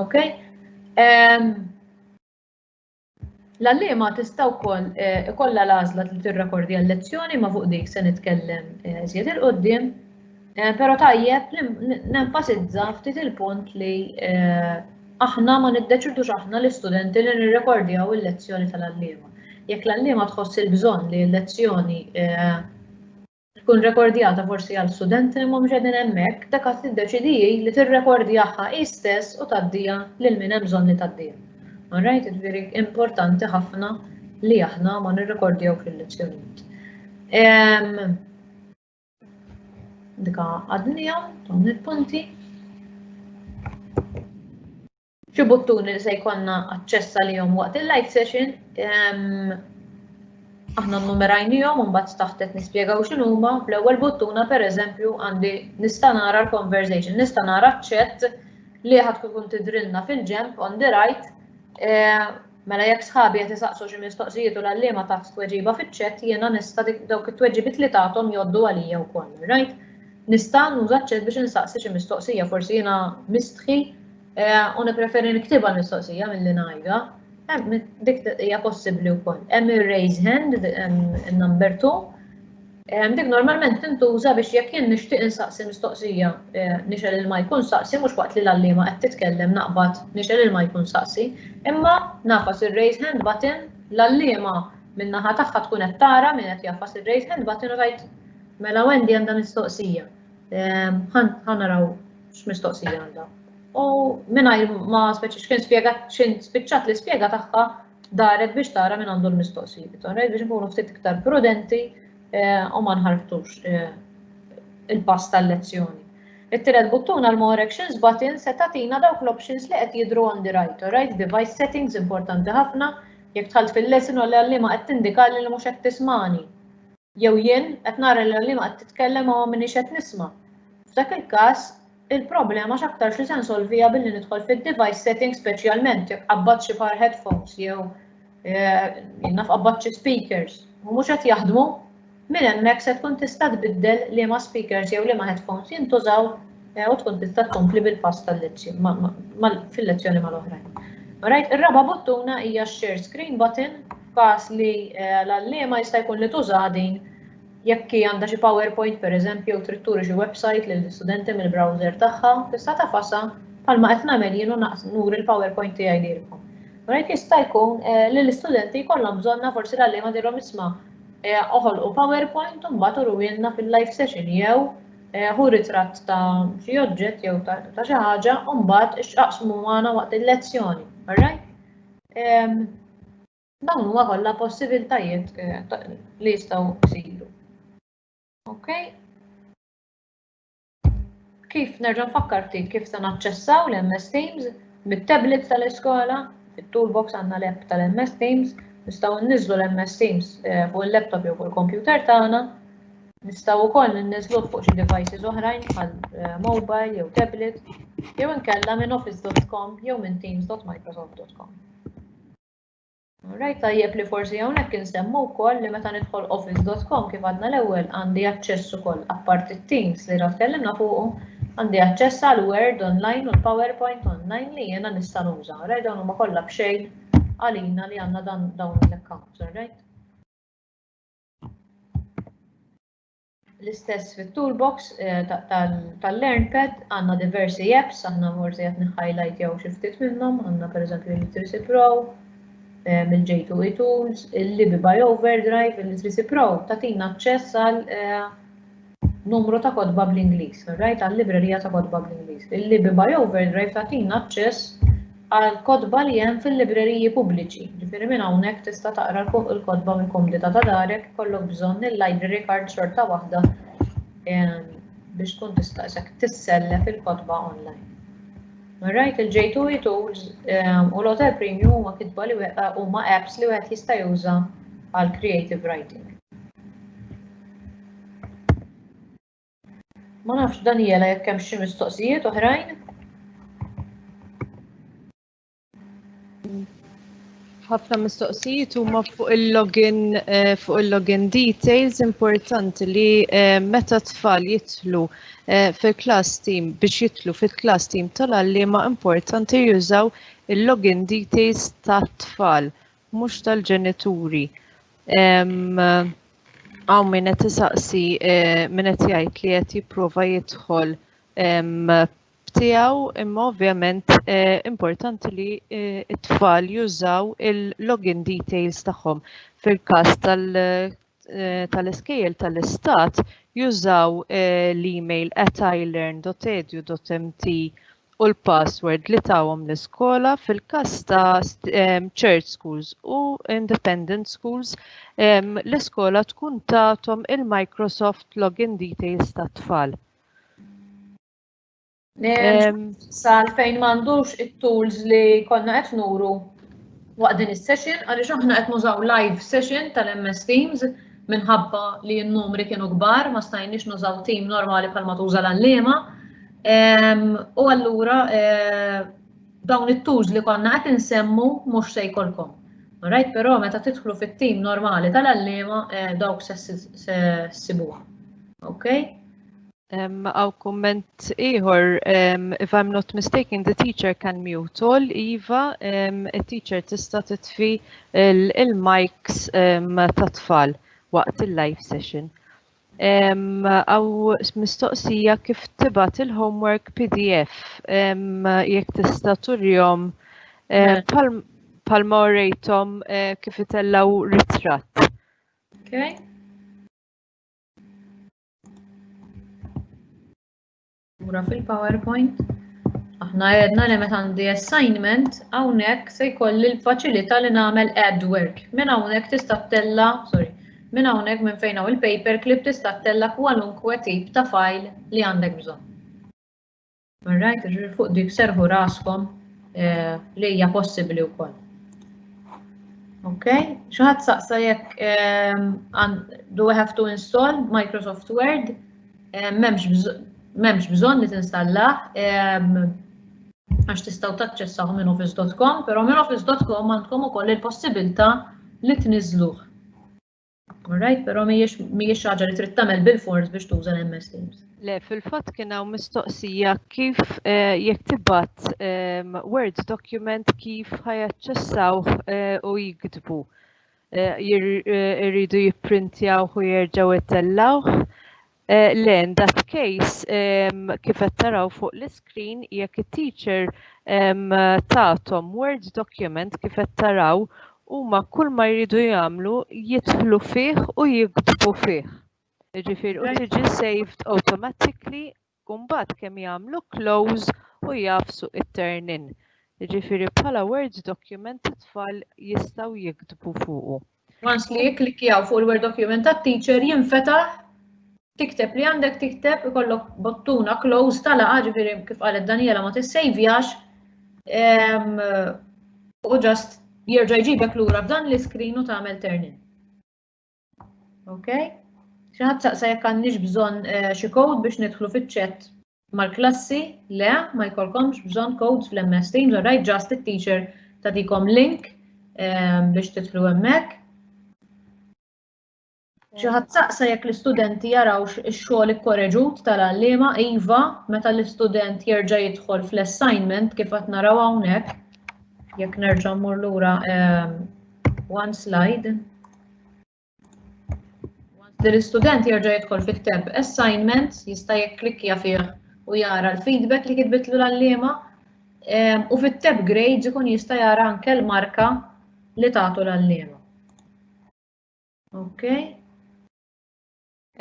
Okay? Ehm, L-għallima tista' wkoll eh, ikollha l-għażla li tirrekordja l-lezzjoni ma' fuq dik se nitkellem eh, żjed il-qudiem. Eh, pero tajjeb li nenfasizza ftit il-punt li eh, aħna ma niddeċidux aħna l-istudenti li nirrekordjaw il-lezzjoni tal-allima. Jekk l-allima tħoss il-bżonn li l-lezzjoni eh, tkun rekordjata forsi għal studenti li mhumiex qegħdin hemmhekk, dak qed tiddeċidiji li tirrekordjaha hi stess u taddija lil min hemm bżonn li taddija. Alright, veri importanti ħafna li aħna ma nirrekordjaw fil-lezzjonijiet. Ehm, Dika għadnija, dawn il-punti. Xi buttuni li se jkollna aċċess għalihom waqt il-live session, ehm, aħna numerajnijom un bat taħtet nispiegaw xinuma, fl-ewwel buttuna per eżempju għandi nista' nara l-conversation, nista' nara ċ-chat li ħad tkun tidrilna fil-ġemp on the right eh, Mela jekk sħabi qed isaqsu xi mistoqsijiet u l-għalliema tat tweġiba fiċ-chat jiena nista' dawk it-tweġibiet li tagħthom jgħoddu għalija wkoll, rajt? Nista' nuża ċ-chat biex insaqsi xi mistoqsija, forsi jiena mistħi u nippreferi niktibha l-mistoqsija milli ngħidha. Dik hija possibbli wkoll. Hemm ir-raise hand, number 2, Ehm, dik normalment tintuża biex jekk jien nixtieq insaqsi mistoqsija eh, nixel il ma jkun saqsi mhux waqt li l-allima qed titkellem naqbad nixel il ma jkun saqsi, imma nafas ir-raise hand button l-allima min-naħa tagħha tkun qed tara min qed jafas ir-raise hand button u tgħid mela Wendy għandha mistoqsija. Ehm, ħa naraw x'mistoqsija għandha. U mingħajr ma speċi x'kien spjegat x'in spiċċat l-ispjega tagħha daret biex tara minn għandu l-mistoqsijiet, alright, biex nkunu ftit iktar prudenti eh, u ma nħarftux eh, il-pass tal-lezzjoni. It-tielet buttuna l-More Actions button se tatina dawk l-options li qed jidru on the right, alright, device settings importanti ħafna, jekk tħalt fil-lesson u l-għallima qed tindikali li mhux qed tismani. Jew jien qed nara li l-għalliema qed titkellem u ma miniex qed nisma'. F'dak il-każ, il-problema x'aktarx li se nsolviha billi nidħol fid-device settings speċjalment jekk qabbadt xi par headphones jew jien naf qabbadt xi speakers u mhux qed jaħdmu, minn hemmhekk se tkun tista' tbiddel liema speakers jew liema headphones jintużaw u tkun tista' tkompli bil-pass tal-lezzjoni fil-lezzjoni mal-oħrajn. Alright, ir-raba' buttuna hija share screen button f'każ li l-għalliema jista' jkun li tużaha din jekk hi għandha xi PowerPoint pereżempju jew trid turi xi website lill-istudenti mill-browser tagħha, tista' tagħfasha bħalma qed nagħmel jien u nuri l-PowerPoint tiegħi lilkom. Rajt jista' jkun eh, li l-istudenti jkollhom bżonna forsi l-għalliema dirhom isma' eh, oħolqu PowerPoint u mbagħad uruwielna fil-live session jew eh, hu ritratt ta' xi oġġett jew ta' xi ħaġa u mbagħad ixqaqsmu magħna waqt il-lezzjoni. Alright? Dawn huwa kollha possibiltajiet eh, li jistgħu jsiru. Ok? Kif nerġa' nfakkar ftit kif se naċċessaw l-MS Teams mit-tablets tal-iskola, fit-toolbox għandna l-app tal-MS Teams, nistgħu nniżlu l-MS Teams eh, fuq il-laptop jew fuq il-computer tagħna. Nistgħu wkoll ninniżluh fuq xi devices oħrajn bħal eh, mobile jew tablet jew inkella minn office.com jew minn teams.microsoft.com. Rajt tajjeb li forsi hawnhekk insemmu wkoll li meta nidħol office.com kif għadna l-ewwel għandi aċċess ukoll apparti teams li ra tkellimna fuqu għandi aċċess għal Word online u l-PowerPoint online li jiena nista' nuża. Rajt dawn huma kollha b'xejn għalina li għandna dan dawn l-accounts, right? L-istess fit-toolbox eh, tal-LearnPad għandna diversi apps, aħna morsi qed niħajlajt jew xi ftit minnhom, għandna pereżempju l-Literacy Pro, eh, mill-J2E Tools, il-Libi by Overdrive, il-Literacy Pro tatina aċċess għal eh, Numru ta' kotba bl-Ingliż, Ride għal-librerija ta' kotba bl-Ingliż. Il-Libi by Overdrive tagħtina aċċess għall-kotba li hemm fil-libreriji pubbliċi, jiġifieri minn hawnhekk tista' taqra l-kotba mill-komdità ta' darek, ikollok bżonn il-library card xorta waħda biex tkun tista' isek tissellef il-kotba online. Ride il-J2E Tools u l-Hotel Premium huma kitba li huma apps li wieħed jista' juża għal creative writing. Ma nafx Daniela jekk hemm xi mistoqsijiet oħrajn. ħafna mistoqsijiet huma fuq il-login eh, fuq il-login details importanti li eh, meta tfal jitlu eh, fil-class team biex jitlu fil-class team tal-għalliema importanti jużaw il-login details tat-tfal mhux tal-ġenituri. Hawn min qed isaqsi eh, min qed jgħid li qed jipprova jidħol tiegħu imma ovvjament eh, importanti li eh, t-tfal jużaw il-login details tagħhom fil-każ tal eh, tal-iskejjel tal-istat jużaw eh, l-email at ilearn.edu.mt u l-password li tawhom l-iskola fil-każ ta' church schools u independent schools l-iskola tkun tagħthom il-Microsoft login details tat-tfal. Sal fejn m'għandux it-tools li konna qed nuru waqt din is-session għaliex aħna qed nużaw live session tal-MS Teams minħabba li n-numri kienu kbar ma stajniex nużaw team normali bħalma tuża l-għalliema. U allura eh, dawn it-tools li konna qed insemmu mhux se jkollkom. Rajt però meta tidħlu fit-tim normali tal-allema eh, dawk se sibuha. Okay? Għaw komment iħor, if I'm not mistaken, the teacher can mute all, Iva, il-teacher tista titfi il-mics ta' tfal waqt il-live session. Għaw mistoqsija kif tibat il-homework PDF, jek tista turjom palma orejtom eh, kif itellaw ritrat. Okay. Mura fil-PowerPoint. Aħna għedna li meta għandi assignment, hawnhekk se jkolli l-faċilità li nagħmel ad work. Minn hawnhekk tista' tella, sorry, minn hawnhekk minn fejn hawn il-paperclip tista' tella kwalunkwe tip ta' file li għandek bżonn. All right, ġuri fuq dik serħu raskom eh, li hija possibbli wkoll. Ok, xaħat saqsa jekk ehm, do I have to install Microsoft Word? Eh, memx bżon li tinstalla, ehm, għax tistaw taċċessaw minn office.com, pero minn office.com għandkom ukoll il-possibilta li tniżluh. Alright, pero mhijiex xi ħaġa li trid tagħmel bil-fors biex tuża l-MS Teams. Le, fil-fatt kien hawn mistoqsija kif eh, jekk tibgħat ehm, Word document kif ħajaċċessaw eh, u jiktbu. Eh, irridu jipprintjaw u jerġgħu jtellawh. Eh, le, in that case, um, kif qed taraw fuq l-iskrin, jekk it-teacher um, tatom Word document kif qed taraw, huma kull ma jridu jagħmlu jidħlu fih u jiktbu fih. Ġifir, u tiġi saved automatically, kumbat kemm jagħmlu close u jafsu it-turn in. Ġifiri, bħala Word document it-tfal jistaw jiktbu fuqu. Once li jikklikjaw fuq il-Word Document ta' teacher jinfetaħ tikteb li għandek tikteb ikollok bottuna close ta' laqa ġifieri kif qalet Daniela ma tissejvjax u ġast jerġa' jġibek lura f'dan l-iskrin u tagħmel turn Okay? Xi ħadd saqsa jekk għandniex bżonn eh, xi code biex nidħlu fiċ-chat Mal-klassi, le, ma jkollkomx bżonn codes fl-MS Teams, alright, just it-teacher tagħtikom link ehm, biex titlu hemmhekk. Xi ħadd saqsa jekk l-istudenti jarawx ix-xogħol ikkoreġut tal-għalliema iva meta l-istudent jerġa' jidħol fl-assignment kif qed naraw hawnhekk. Jekk nerġa' mmur lura ehm, one slide. Li l-istudent jerġa' jidħol fi ktab assignment jista' jikklikkja fih u jara l-feedback li kitbitlu l-għalliema ehm, u fit-tab grades ikun jista' jara anke l-marka li tagħtu l-għalliema. Okay.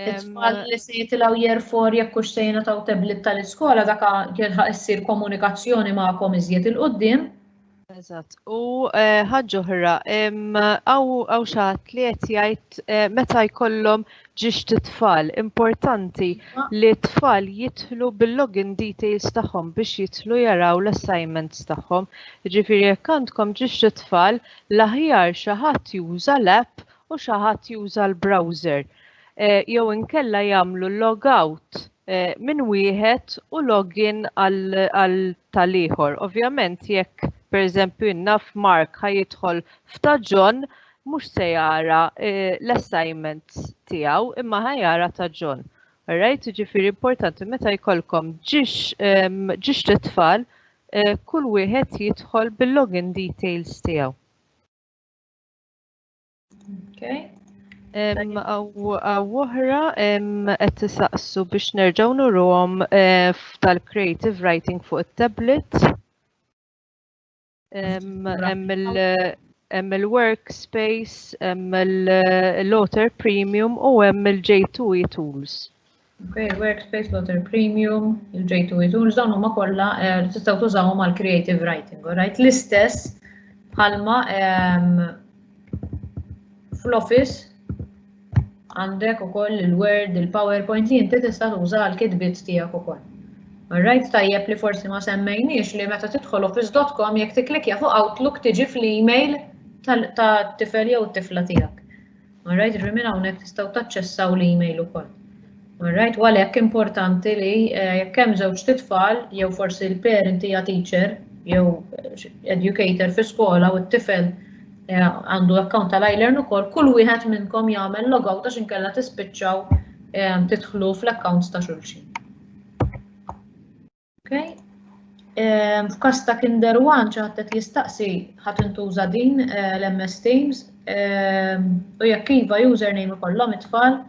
It-tfal li se jitilgħu jerfor jekk hux se jingħataw tablet tal-iskola dak jilħaq issir komunikazzjoni magħkom iżjed il-qudiem. Eżatt. U eh, ħaġa oħra, għaw xaħat li qed jgħid eh, meta jkollhom ġiex t-tfal, importanti li t-tfal jitlu bil-login details tagħhom biex jitlu jaraw l-assignments tagħhom. Ġifieri jekk għandkom ġiex t-tfal, l-aħjar xi ħadd juża l-app u xi ħadd juża l-browser jew inkella jagħmlu log out minn wieħed u login għal tal-ieħor. Ovvjament jekk pereżempju naf Mark ħa jidħol f'ta' John mhux se jara l-assignments tiegħu imma ħa jara ta' John. Alright, ġifiri importanti meta jkollkom ġiex ġiex tfal eh, kull wieħed jidħol bil-login details tiegħu. Okay. Għaw oħra qed tisaqsu biex nerġgħu nuruhom eh, tal-creative writing fuq it-tablet. Hemm il-workspace, hemm l-Otter Premium u hemm il-J2E tools. Okay, workspace, water premium, il-J2 tools, dawn huma kollha eh, tistgħu tużawhom għal creative writing, right? L-istess bħalma ehm, fl-office għandek ukoll il-Word, il-PowerPoint li inti tista' tuża għal kitbiet tiegħek ukoll. Alright, tajjeb li forsi ma semmejniex li meta tidħol office.com jekk tiklikja fuq Outlook tiġi fl-email tal-tifel jew t-tifla tiegħek. All right, ġri minn hawnhekk tistgħu taċċessaw l-email ukoll. All right, u għalhekk importanti li eh, jekk hemm żewġ titfal jew forsi l-parent hija teacher jew eh, educator fi skola u t-tifel eh, għandu account tal ilearn ukoll, kull wieħed minnkom jagħmel logout għax inkella tispiċċaw tidħlu fl-accounts ta' xulxin. Okay. Ehm, f'kas ta' Kinder One ċaħtet jistaqsi ħat intuża din eh, l-MS Teams ehm, u jekk iva username ikollhom it-tfal.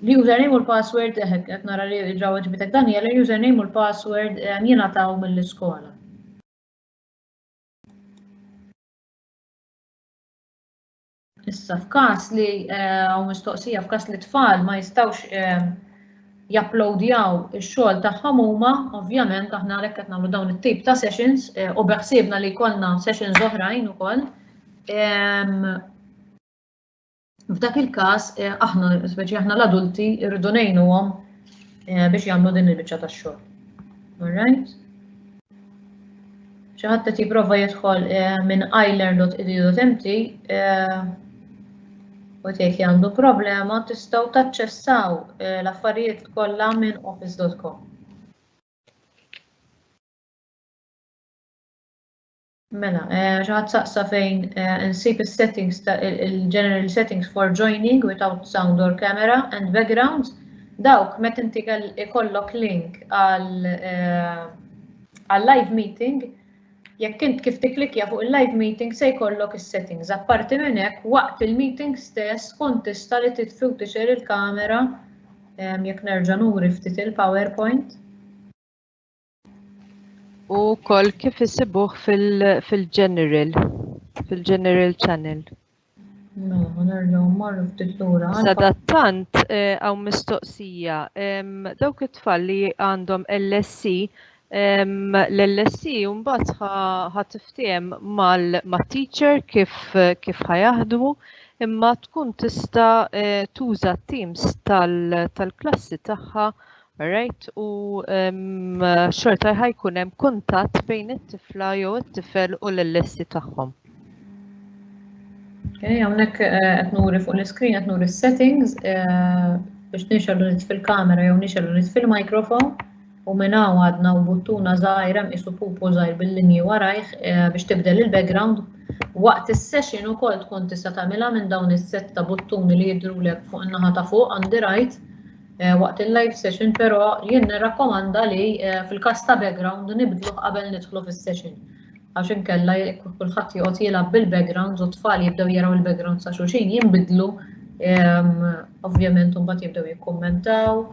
L-username u l-password eh, qed nara li ġraw ġbitek Daniel, l-username u l-password ehm, jingħataw mill-iskola. Issa f'każ li hawn mistoqsija f'każ li tfal ma jistgħux japplowdjaw ix-xogħol tagħhom huma, ovvjament aħna għalhekk qed nagħmlu dawn it-tip ta' sessions eh, u beħsiebna li jkollna sessions oħrajn ukoll. Ehm, f'dak il-każ eh, aħna, speċi aħna l-adulti rridu ngħinuhom eh, biex jagħmlu din il-biċċa tax-xogħol. Alright? Xi ħadd qed jipprova jidħol eh, minn ilearn.edu.mt eh, u tgħid li għandu problema tistgħu taċċessaw eh, l-affarijiet kollha minn office.com. Mela, eh, xi ħadd saqsa fejn eh, insib is-settings ta' il-general settings for joining without sound or camera and background. Dawk meta inti ikollok link għal eh, għal live meeting, jekk int kif tiklikja fuq il-live meeting se jkollok is-settings. Apparti minn hekk, waqt il-meeting stess kont tista' li titfi u tixer il-kamera jekk nerġa' nuri ftit il-PowerPoint. U wkoll kif isibuh fil-general, fil-general channel. Mela, nerġgħu marru ftit lura. Sadattant eh, hawn mistoqsija dawk it-tfal li għandhom LSC l-LSC mbagħad ħa tiftiem mal-teacher kif kif ħajaħdmu imma tkun tista' eh, tuża t-teams tal-klassi tagħha Alright, u xorta ħajkun hemm kuntatt bejn it-tifla jew it-tifel u l-lessi tagħhom. Okay, hawnhekk eh, qed nuri fuq l-iskrin qed nuri settings eh, biex nixelu nit fil-kamera jew nixelu nit fil-mikrofon u minn hawn għadna u buttuna żgħira mqisu pupu żgħir bil-linji warajh eh, biex tibdel il-background Waqt is-session ukoll tkun tista' tagħmilha minn dawn is-sett ta' buttuni li jidrulek fuq in-naħa ta' fuq għandi rajt Eh, waqt il-live session, però jien nirrakkomanda li eh, fil-kas ta' background nibdluh qabel nidħlu fis-session. Għax inkella kulħadd joqgħod jilgħab bil-backgrounds u tfal jibdew jaraw il-backgrounds ta' xulxin jinbidlu ehm, ovvjament mbagħad jibdew jikkummentaw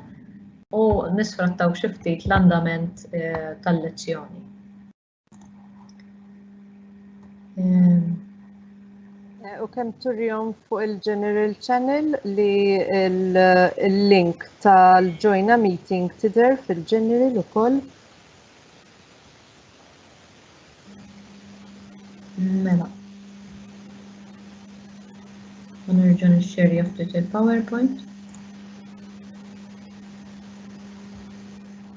u nisfrattaw xi ftit l-andament eh, tal-lezzjoni. Eh, u kemm turjom fuq il-General Channel li l-link tal-Joina Meeting tidher fil-General ukoll. Mela. U nerġa' nixxerja ftit il-PowerPoint.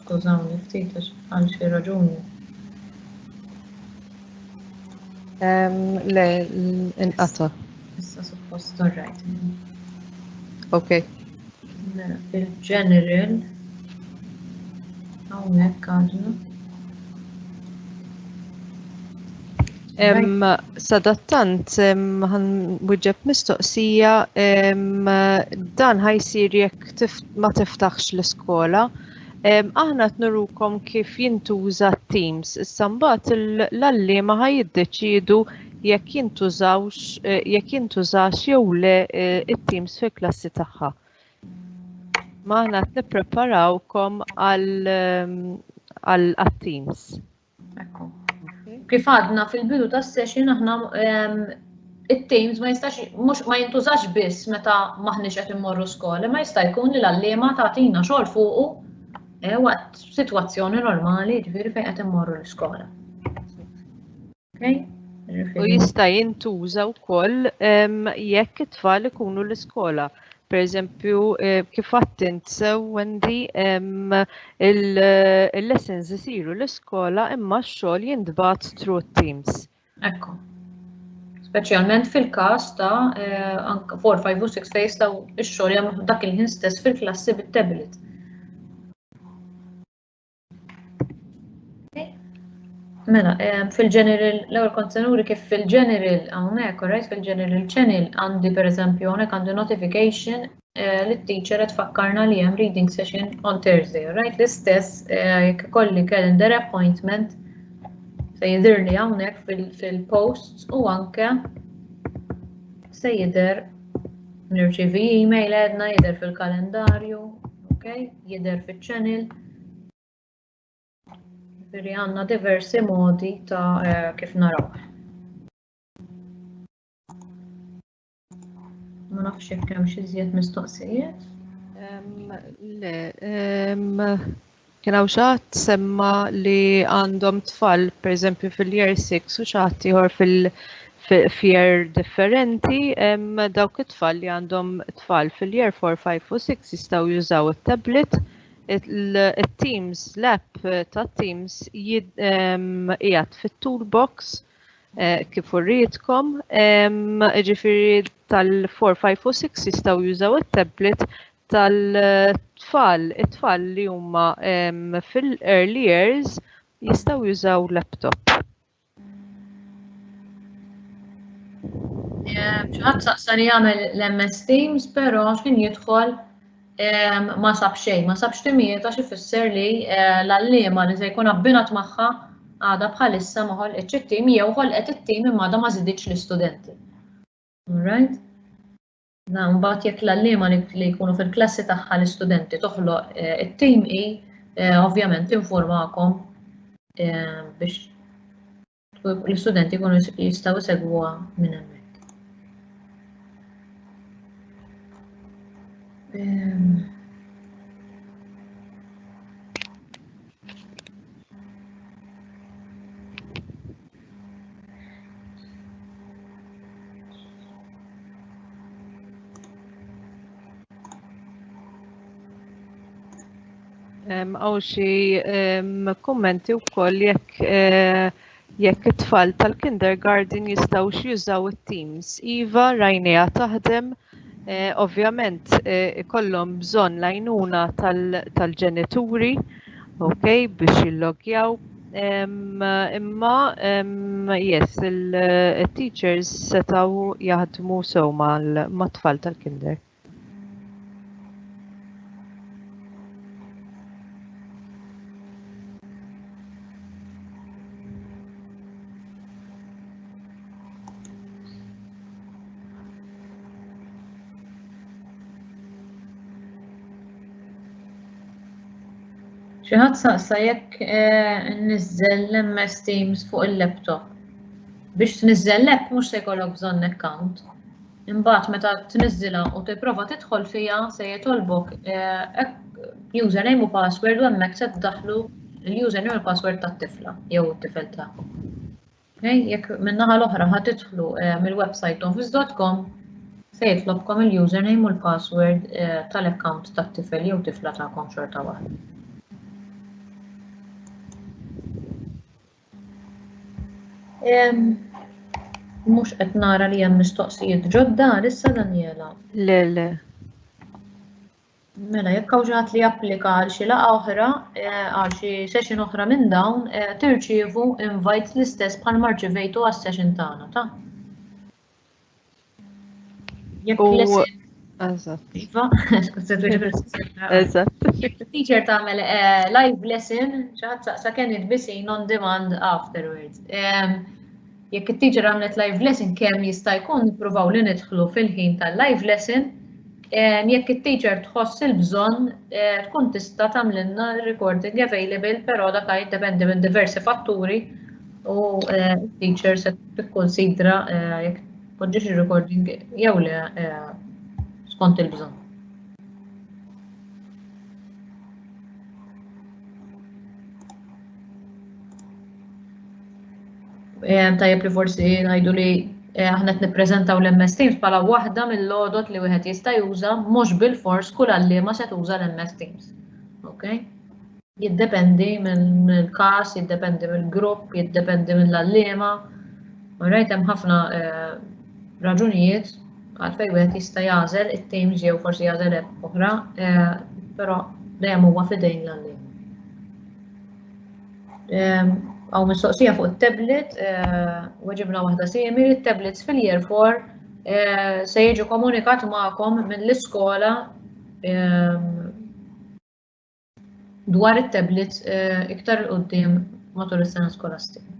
Skużawni ftit għax għal xi raġuni. Le, inqata. Issa suppost torrajt. Ok. Mela, il-general hawnhekk għadna. Sadattant, għan wieġeb mistoqsija dan ħajsir jekk ma tiftaħx l-iskola. Aħna t-nurukom kif jintuża Teams. Issa mbagħad l-allima ħa jiddeċidu jekk jintużawx eh, jekk jintużax jew le eh, it-Teams fil-klassi tagħha. Ma aħna t-nippreparawkom għal-Teams. Ekku. Kif għadna fil-bidu ta' session aħna it-teams ma jistax mhux ma jintużax biss meta maħniex qed immorru skola, ma jista' jkun li l-għalliema tagħtina xogħol fuqu eh, waqt sitwazzjoni normali ġifieri fejn qed immorru l-iskola. U jista' jintuża wkoll jekk it-tfal ikunu l-iskola. Per eżempju, eh, kif għattint sew Wendy, il-lessons isiru l-iskola imma x-xogħol jintbat through teams. Ekku. Speċjalment fil-każ ta' 4, 5 u 6 fejs ta' x-xogħol jagħmlu dak il-ħin stess fil-klassi bit-tablet. Mela, ehm, fil-general, l-ewwel kont se nuri kif fil-general hawnhekk, right, fil-general channel għandi pereżempju hawnhekk għandi notification eh, li t-teacher qed tfakkarna li hemm reading session on Thursday, right? L-istess eh, jekk ikolli calendar appointment se jidhirli hawnhekk fil-posts u anke se jidher Nirċievi email għedna jidher fil-kalendarju, ok, jidher fil-channel. Veri għanna diversi modi ta' eh, kif naraw. Ma nafx jekk hemm xi żjed mistoqsijiet. Le, Kien hawn xi ħadd semma li għandhom tfal, pereżempju fil-year 6 u xi ħadd ieħor fil-year differenti, dawk it-tfal li għandhom tfal fil-year 4, 5 u 6 jistgħu jużaw it-tablet il-Teams, l-app ta' Teams jgħat fit-toolbox eh, kif urritkom, ġifiri tal-4, 5 u 6 jistaw jużaw il-tablet tal-tfal, it-tfal li huma fil-early years jistgħu jużaw laptop. ċaħat saqsa li jagħmel l-MS Teams, però x'kien jidħol ma sab xejn, ma sab x'timijiet għax ifisser li eh, l-allima li se jkun abbinat magħha għada bħalissa ma ħolqitx it-tim jew ħolqet it-tim imma għada ma żiditx l-istudenti. Alright? Mbagħad jekk l-għalliema li jkunu fil-klassi tagħha l-istudenti toħloq eh, it-tim i eh, ovvjament informakom eh, biex l-istudenti jkunu jistgħu jsegwuha minn hemmhekk. Għaw xie kommenti u koll jekk eh, jekk it-tfal tal-kindergarten jistaw jużaw it-teams. Iva, rajnija taħdem, Eh, ovvjament eh, ikollhom bżonn l-għajnuna tal-ġenituri ok biex jillogjaw imma yes il-teachers eh, setaw jaħdmu sew mat-tfal tal-kinder. Xi ħadd saqsa jekk eh, niżżel l-MS Teams fuq il-laptop. Biex tniżżel hekk mhux se jkollok bżonn account. Imbagħad meta tniżżilha u tipprova tidħol fiha se jitolbok eh, username u password u hemmhekk se tdaħħlu l-username u l-password tat-tifla jew it-tifel tagħkom. Jekk min-naħa l-oħra ħa tidħlu eh, mill-website office.com se jitlobkom il-username u l-password eh, tal-account tat-tifel jew tifla tagħkom xorta waħda. Mhux qed nara li hemm mistoqsijiet ġodda issa Daniela. Le le. Mela, jekk hawn xi ħadd li japplika għal xi laqgħa oħra, eh, għal xi session oħra minn dawn, eh, tirċievu invites l-istess bħal marċivejtu għas session tagħna, ta'? Jekk l-isem. Eżatt. Iva, Eżatt. Teacher tagħmel eh, live lesson, xi ħadd saqsa can it be seen on demand afterwards. Jekk it-teacher għamlet live lesson kemm jista' jkun nippruvaw li nidħlu fil-ħin tal-live lesson jekk it-teacher tħoss il-bżonn eh, tkun tista' tagħmlilna recording available però dak jiddependi minn diversi fatturi u eh, teacher se tikkonsidra eh, jekk tpoġġiex ir-recording jew le skont il-bżonn. Tajjeb li forsi ngħidu li eh, aħna qed nippreżentaw l-MS Teams bħala waħda mill-lodot li wieħed jista' juża mhux bil-fors kull għalliema se tuża l-MS Teams. Okay? Jiddependi mill-każ, jiddependi mill-grupp, jiddependi mill-għalliema. Rajt hemm ħafna eh, raġunijiet għalfej wieħed jista' jagħżel it-teams jew forsi jagħżel oħra, eh, però dejjem huwa fidejn l-għalliema. Għaw mistoqsija fuq il-tablet, eh, weġibna wahda simili, il-tablets fil-year 4 eh, se jiġu komunikat ma'kom mill-iskola eh, dwar il-tablets iktar il-qoddim matul is-sena skolastika.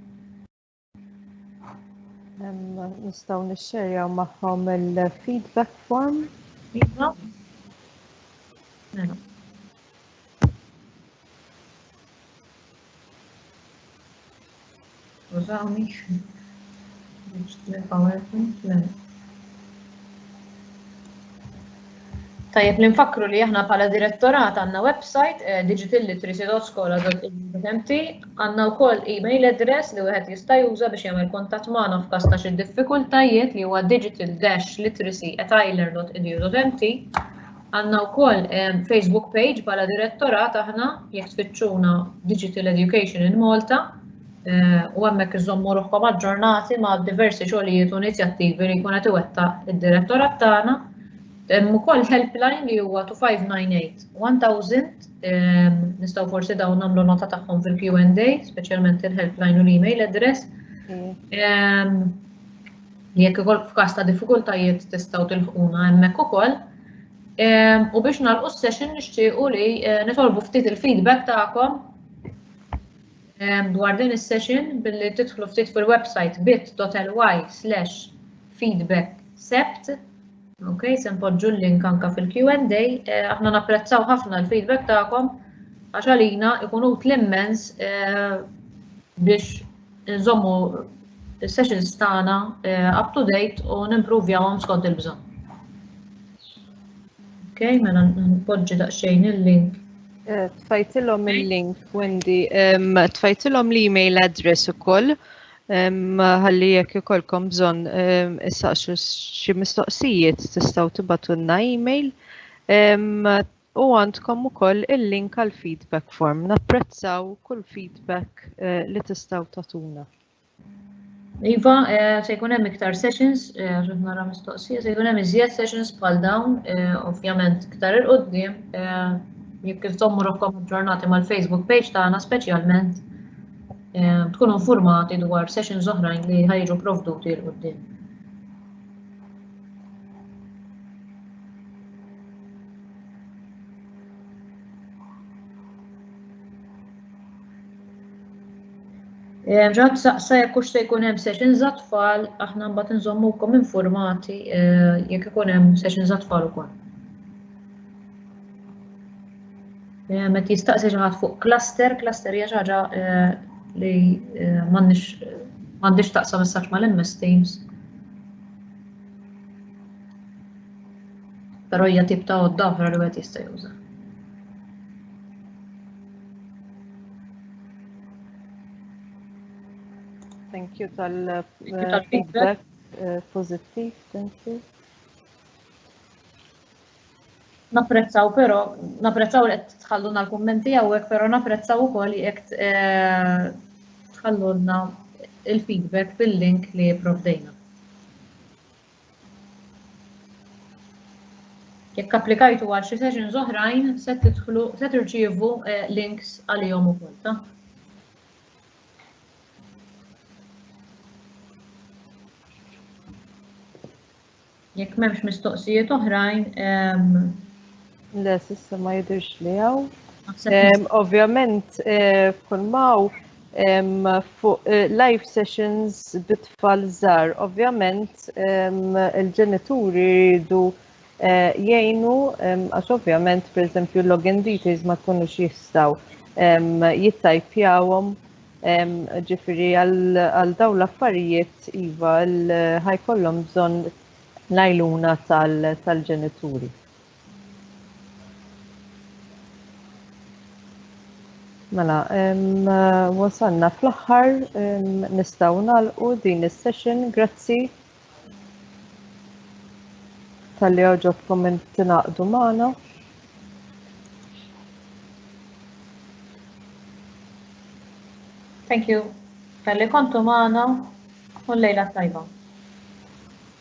Nistaw nixxerjaw maħħom il-feedback form. Iva. Mela. Użawni biex PowerPoint mela. Tajjeb li nfakkru li aħna bħala direttorat għandna website eh, digitalliteracy.skola.mt għandna wkoll email address li wieħed jista' juża biex jagħmel kuntatt magħna f'każ ta' xi diffikultajiet li huwa digital-literacy@ireland.edu.mt għandna wkoll eh, Facebook page bħala direttorat aħna jekk tfittxuna Digital Education in Malta u hemmhekk iżommu ruħkom aġġornati ma' diversi xogħlijiet u inizjattivi li jkun qed iwettaq id-direttorat tagħna. Hemm ukoll helpline li huwa 2598 1000 ehm, nistgħu forsi dawn nagħmlu nota tagħhom fil-Q&A, speċjalment il-helpline u l-email address. Mm. Ehm, jekk ukoll f'każ ta' diffikultajiet tistgħu tilħquna hemmhekk ukoll. Ehm, u biex nagħlqu s-session nixtiequ li eh, nitolbu ftit il-feedback tagħkom Dwar din is-session billi tidħlu ftit fil-website bit.ly slash feedback sept. Ok, se npoġġu l-link anka fil-Q&A. Aħna napprezzaw ħafna l-feedback tagħkom għax għalina ikun utli immens biex nżommu il-sessions tagħna up to date u nimpruvjawhom skont il-bżonn. Ok, mela npoġġi daqsxejn il-link. Eh, tfajtilhom il-link, Wendy, tfajtilhom l-email address ukoll ħalli jekk ikolkom bżonn issaqsu xi mistoqsijiet tistgħu tibatunna email u għandkom ukoll il-link għal feedback form. Napprezzaw kull feedback eh, li tistgħu tatuna. Iva, eh, se jkun hemm iktar sessions, eh, għax nara mistoqsija, se jkun hemm iżjed sessions bħal dawn, eh, ovvjament iktar il-qoddim, jekk kif tommu rohkom ġurnati mal-Facebook page tagħna speċjalment tkunu informati dwar sessions oħrajn li ħajġu provduti l-qoddim. Eh, Ġad saqsa jekk hux se jkun hemm sessions għat-tfal, aħna mbagħad inżommukom informati eh, jekk ikun hemm sessions għat-tfal ukoll. Eh, Met jistaqsi xi ħadd fuq cluster, cluster hija xi ħaġa li m'għandix taqsam messaġġ mal-MS Teams. Però hija tip ta' għodda oħra li wieħed jista' juża. Thank you tal-feedback eh, pozittiv, thank you. Naprezzaw pero, naprezzaw li tħalluna l-kommenti għawek, pero naprezzaw u koll jek eh, tħalluna il-feedback bil-link li provdejna. Jekk applikajtu għal xi sessions oħrajn, se tidħlu se tirċievu eh, links għalihom ukoll, ta? Jekk m'hemmx mistoqsijiet oħrajn, ehm, Le, sissa ma jidirx li għaw. Ovvjament, eh, kull maw fuq eh, live sessions bitfall zar. Ovvjament, il-ġenituri jridu eh, jgħinu, għax ovvjament, per esempio, login details ma tkunux jistaw jittajpjawom ġifiri għal daw l-affarijiet iva l-ħajkollom bżon lajluna tal-ġenituri. Mela, wasalna fl-aħħar nistgħu nagħlqu din is-session. Grazzi tal-li għoġobkom tinaqdu magħna. Thank you. Tal-li kontu magħna u l-lejla tajba.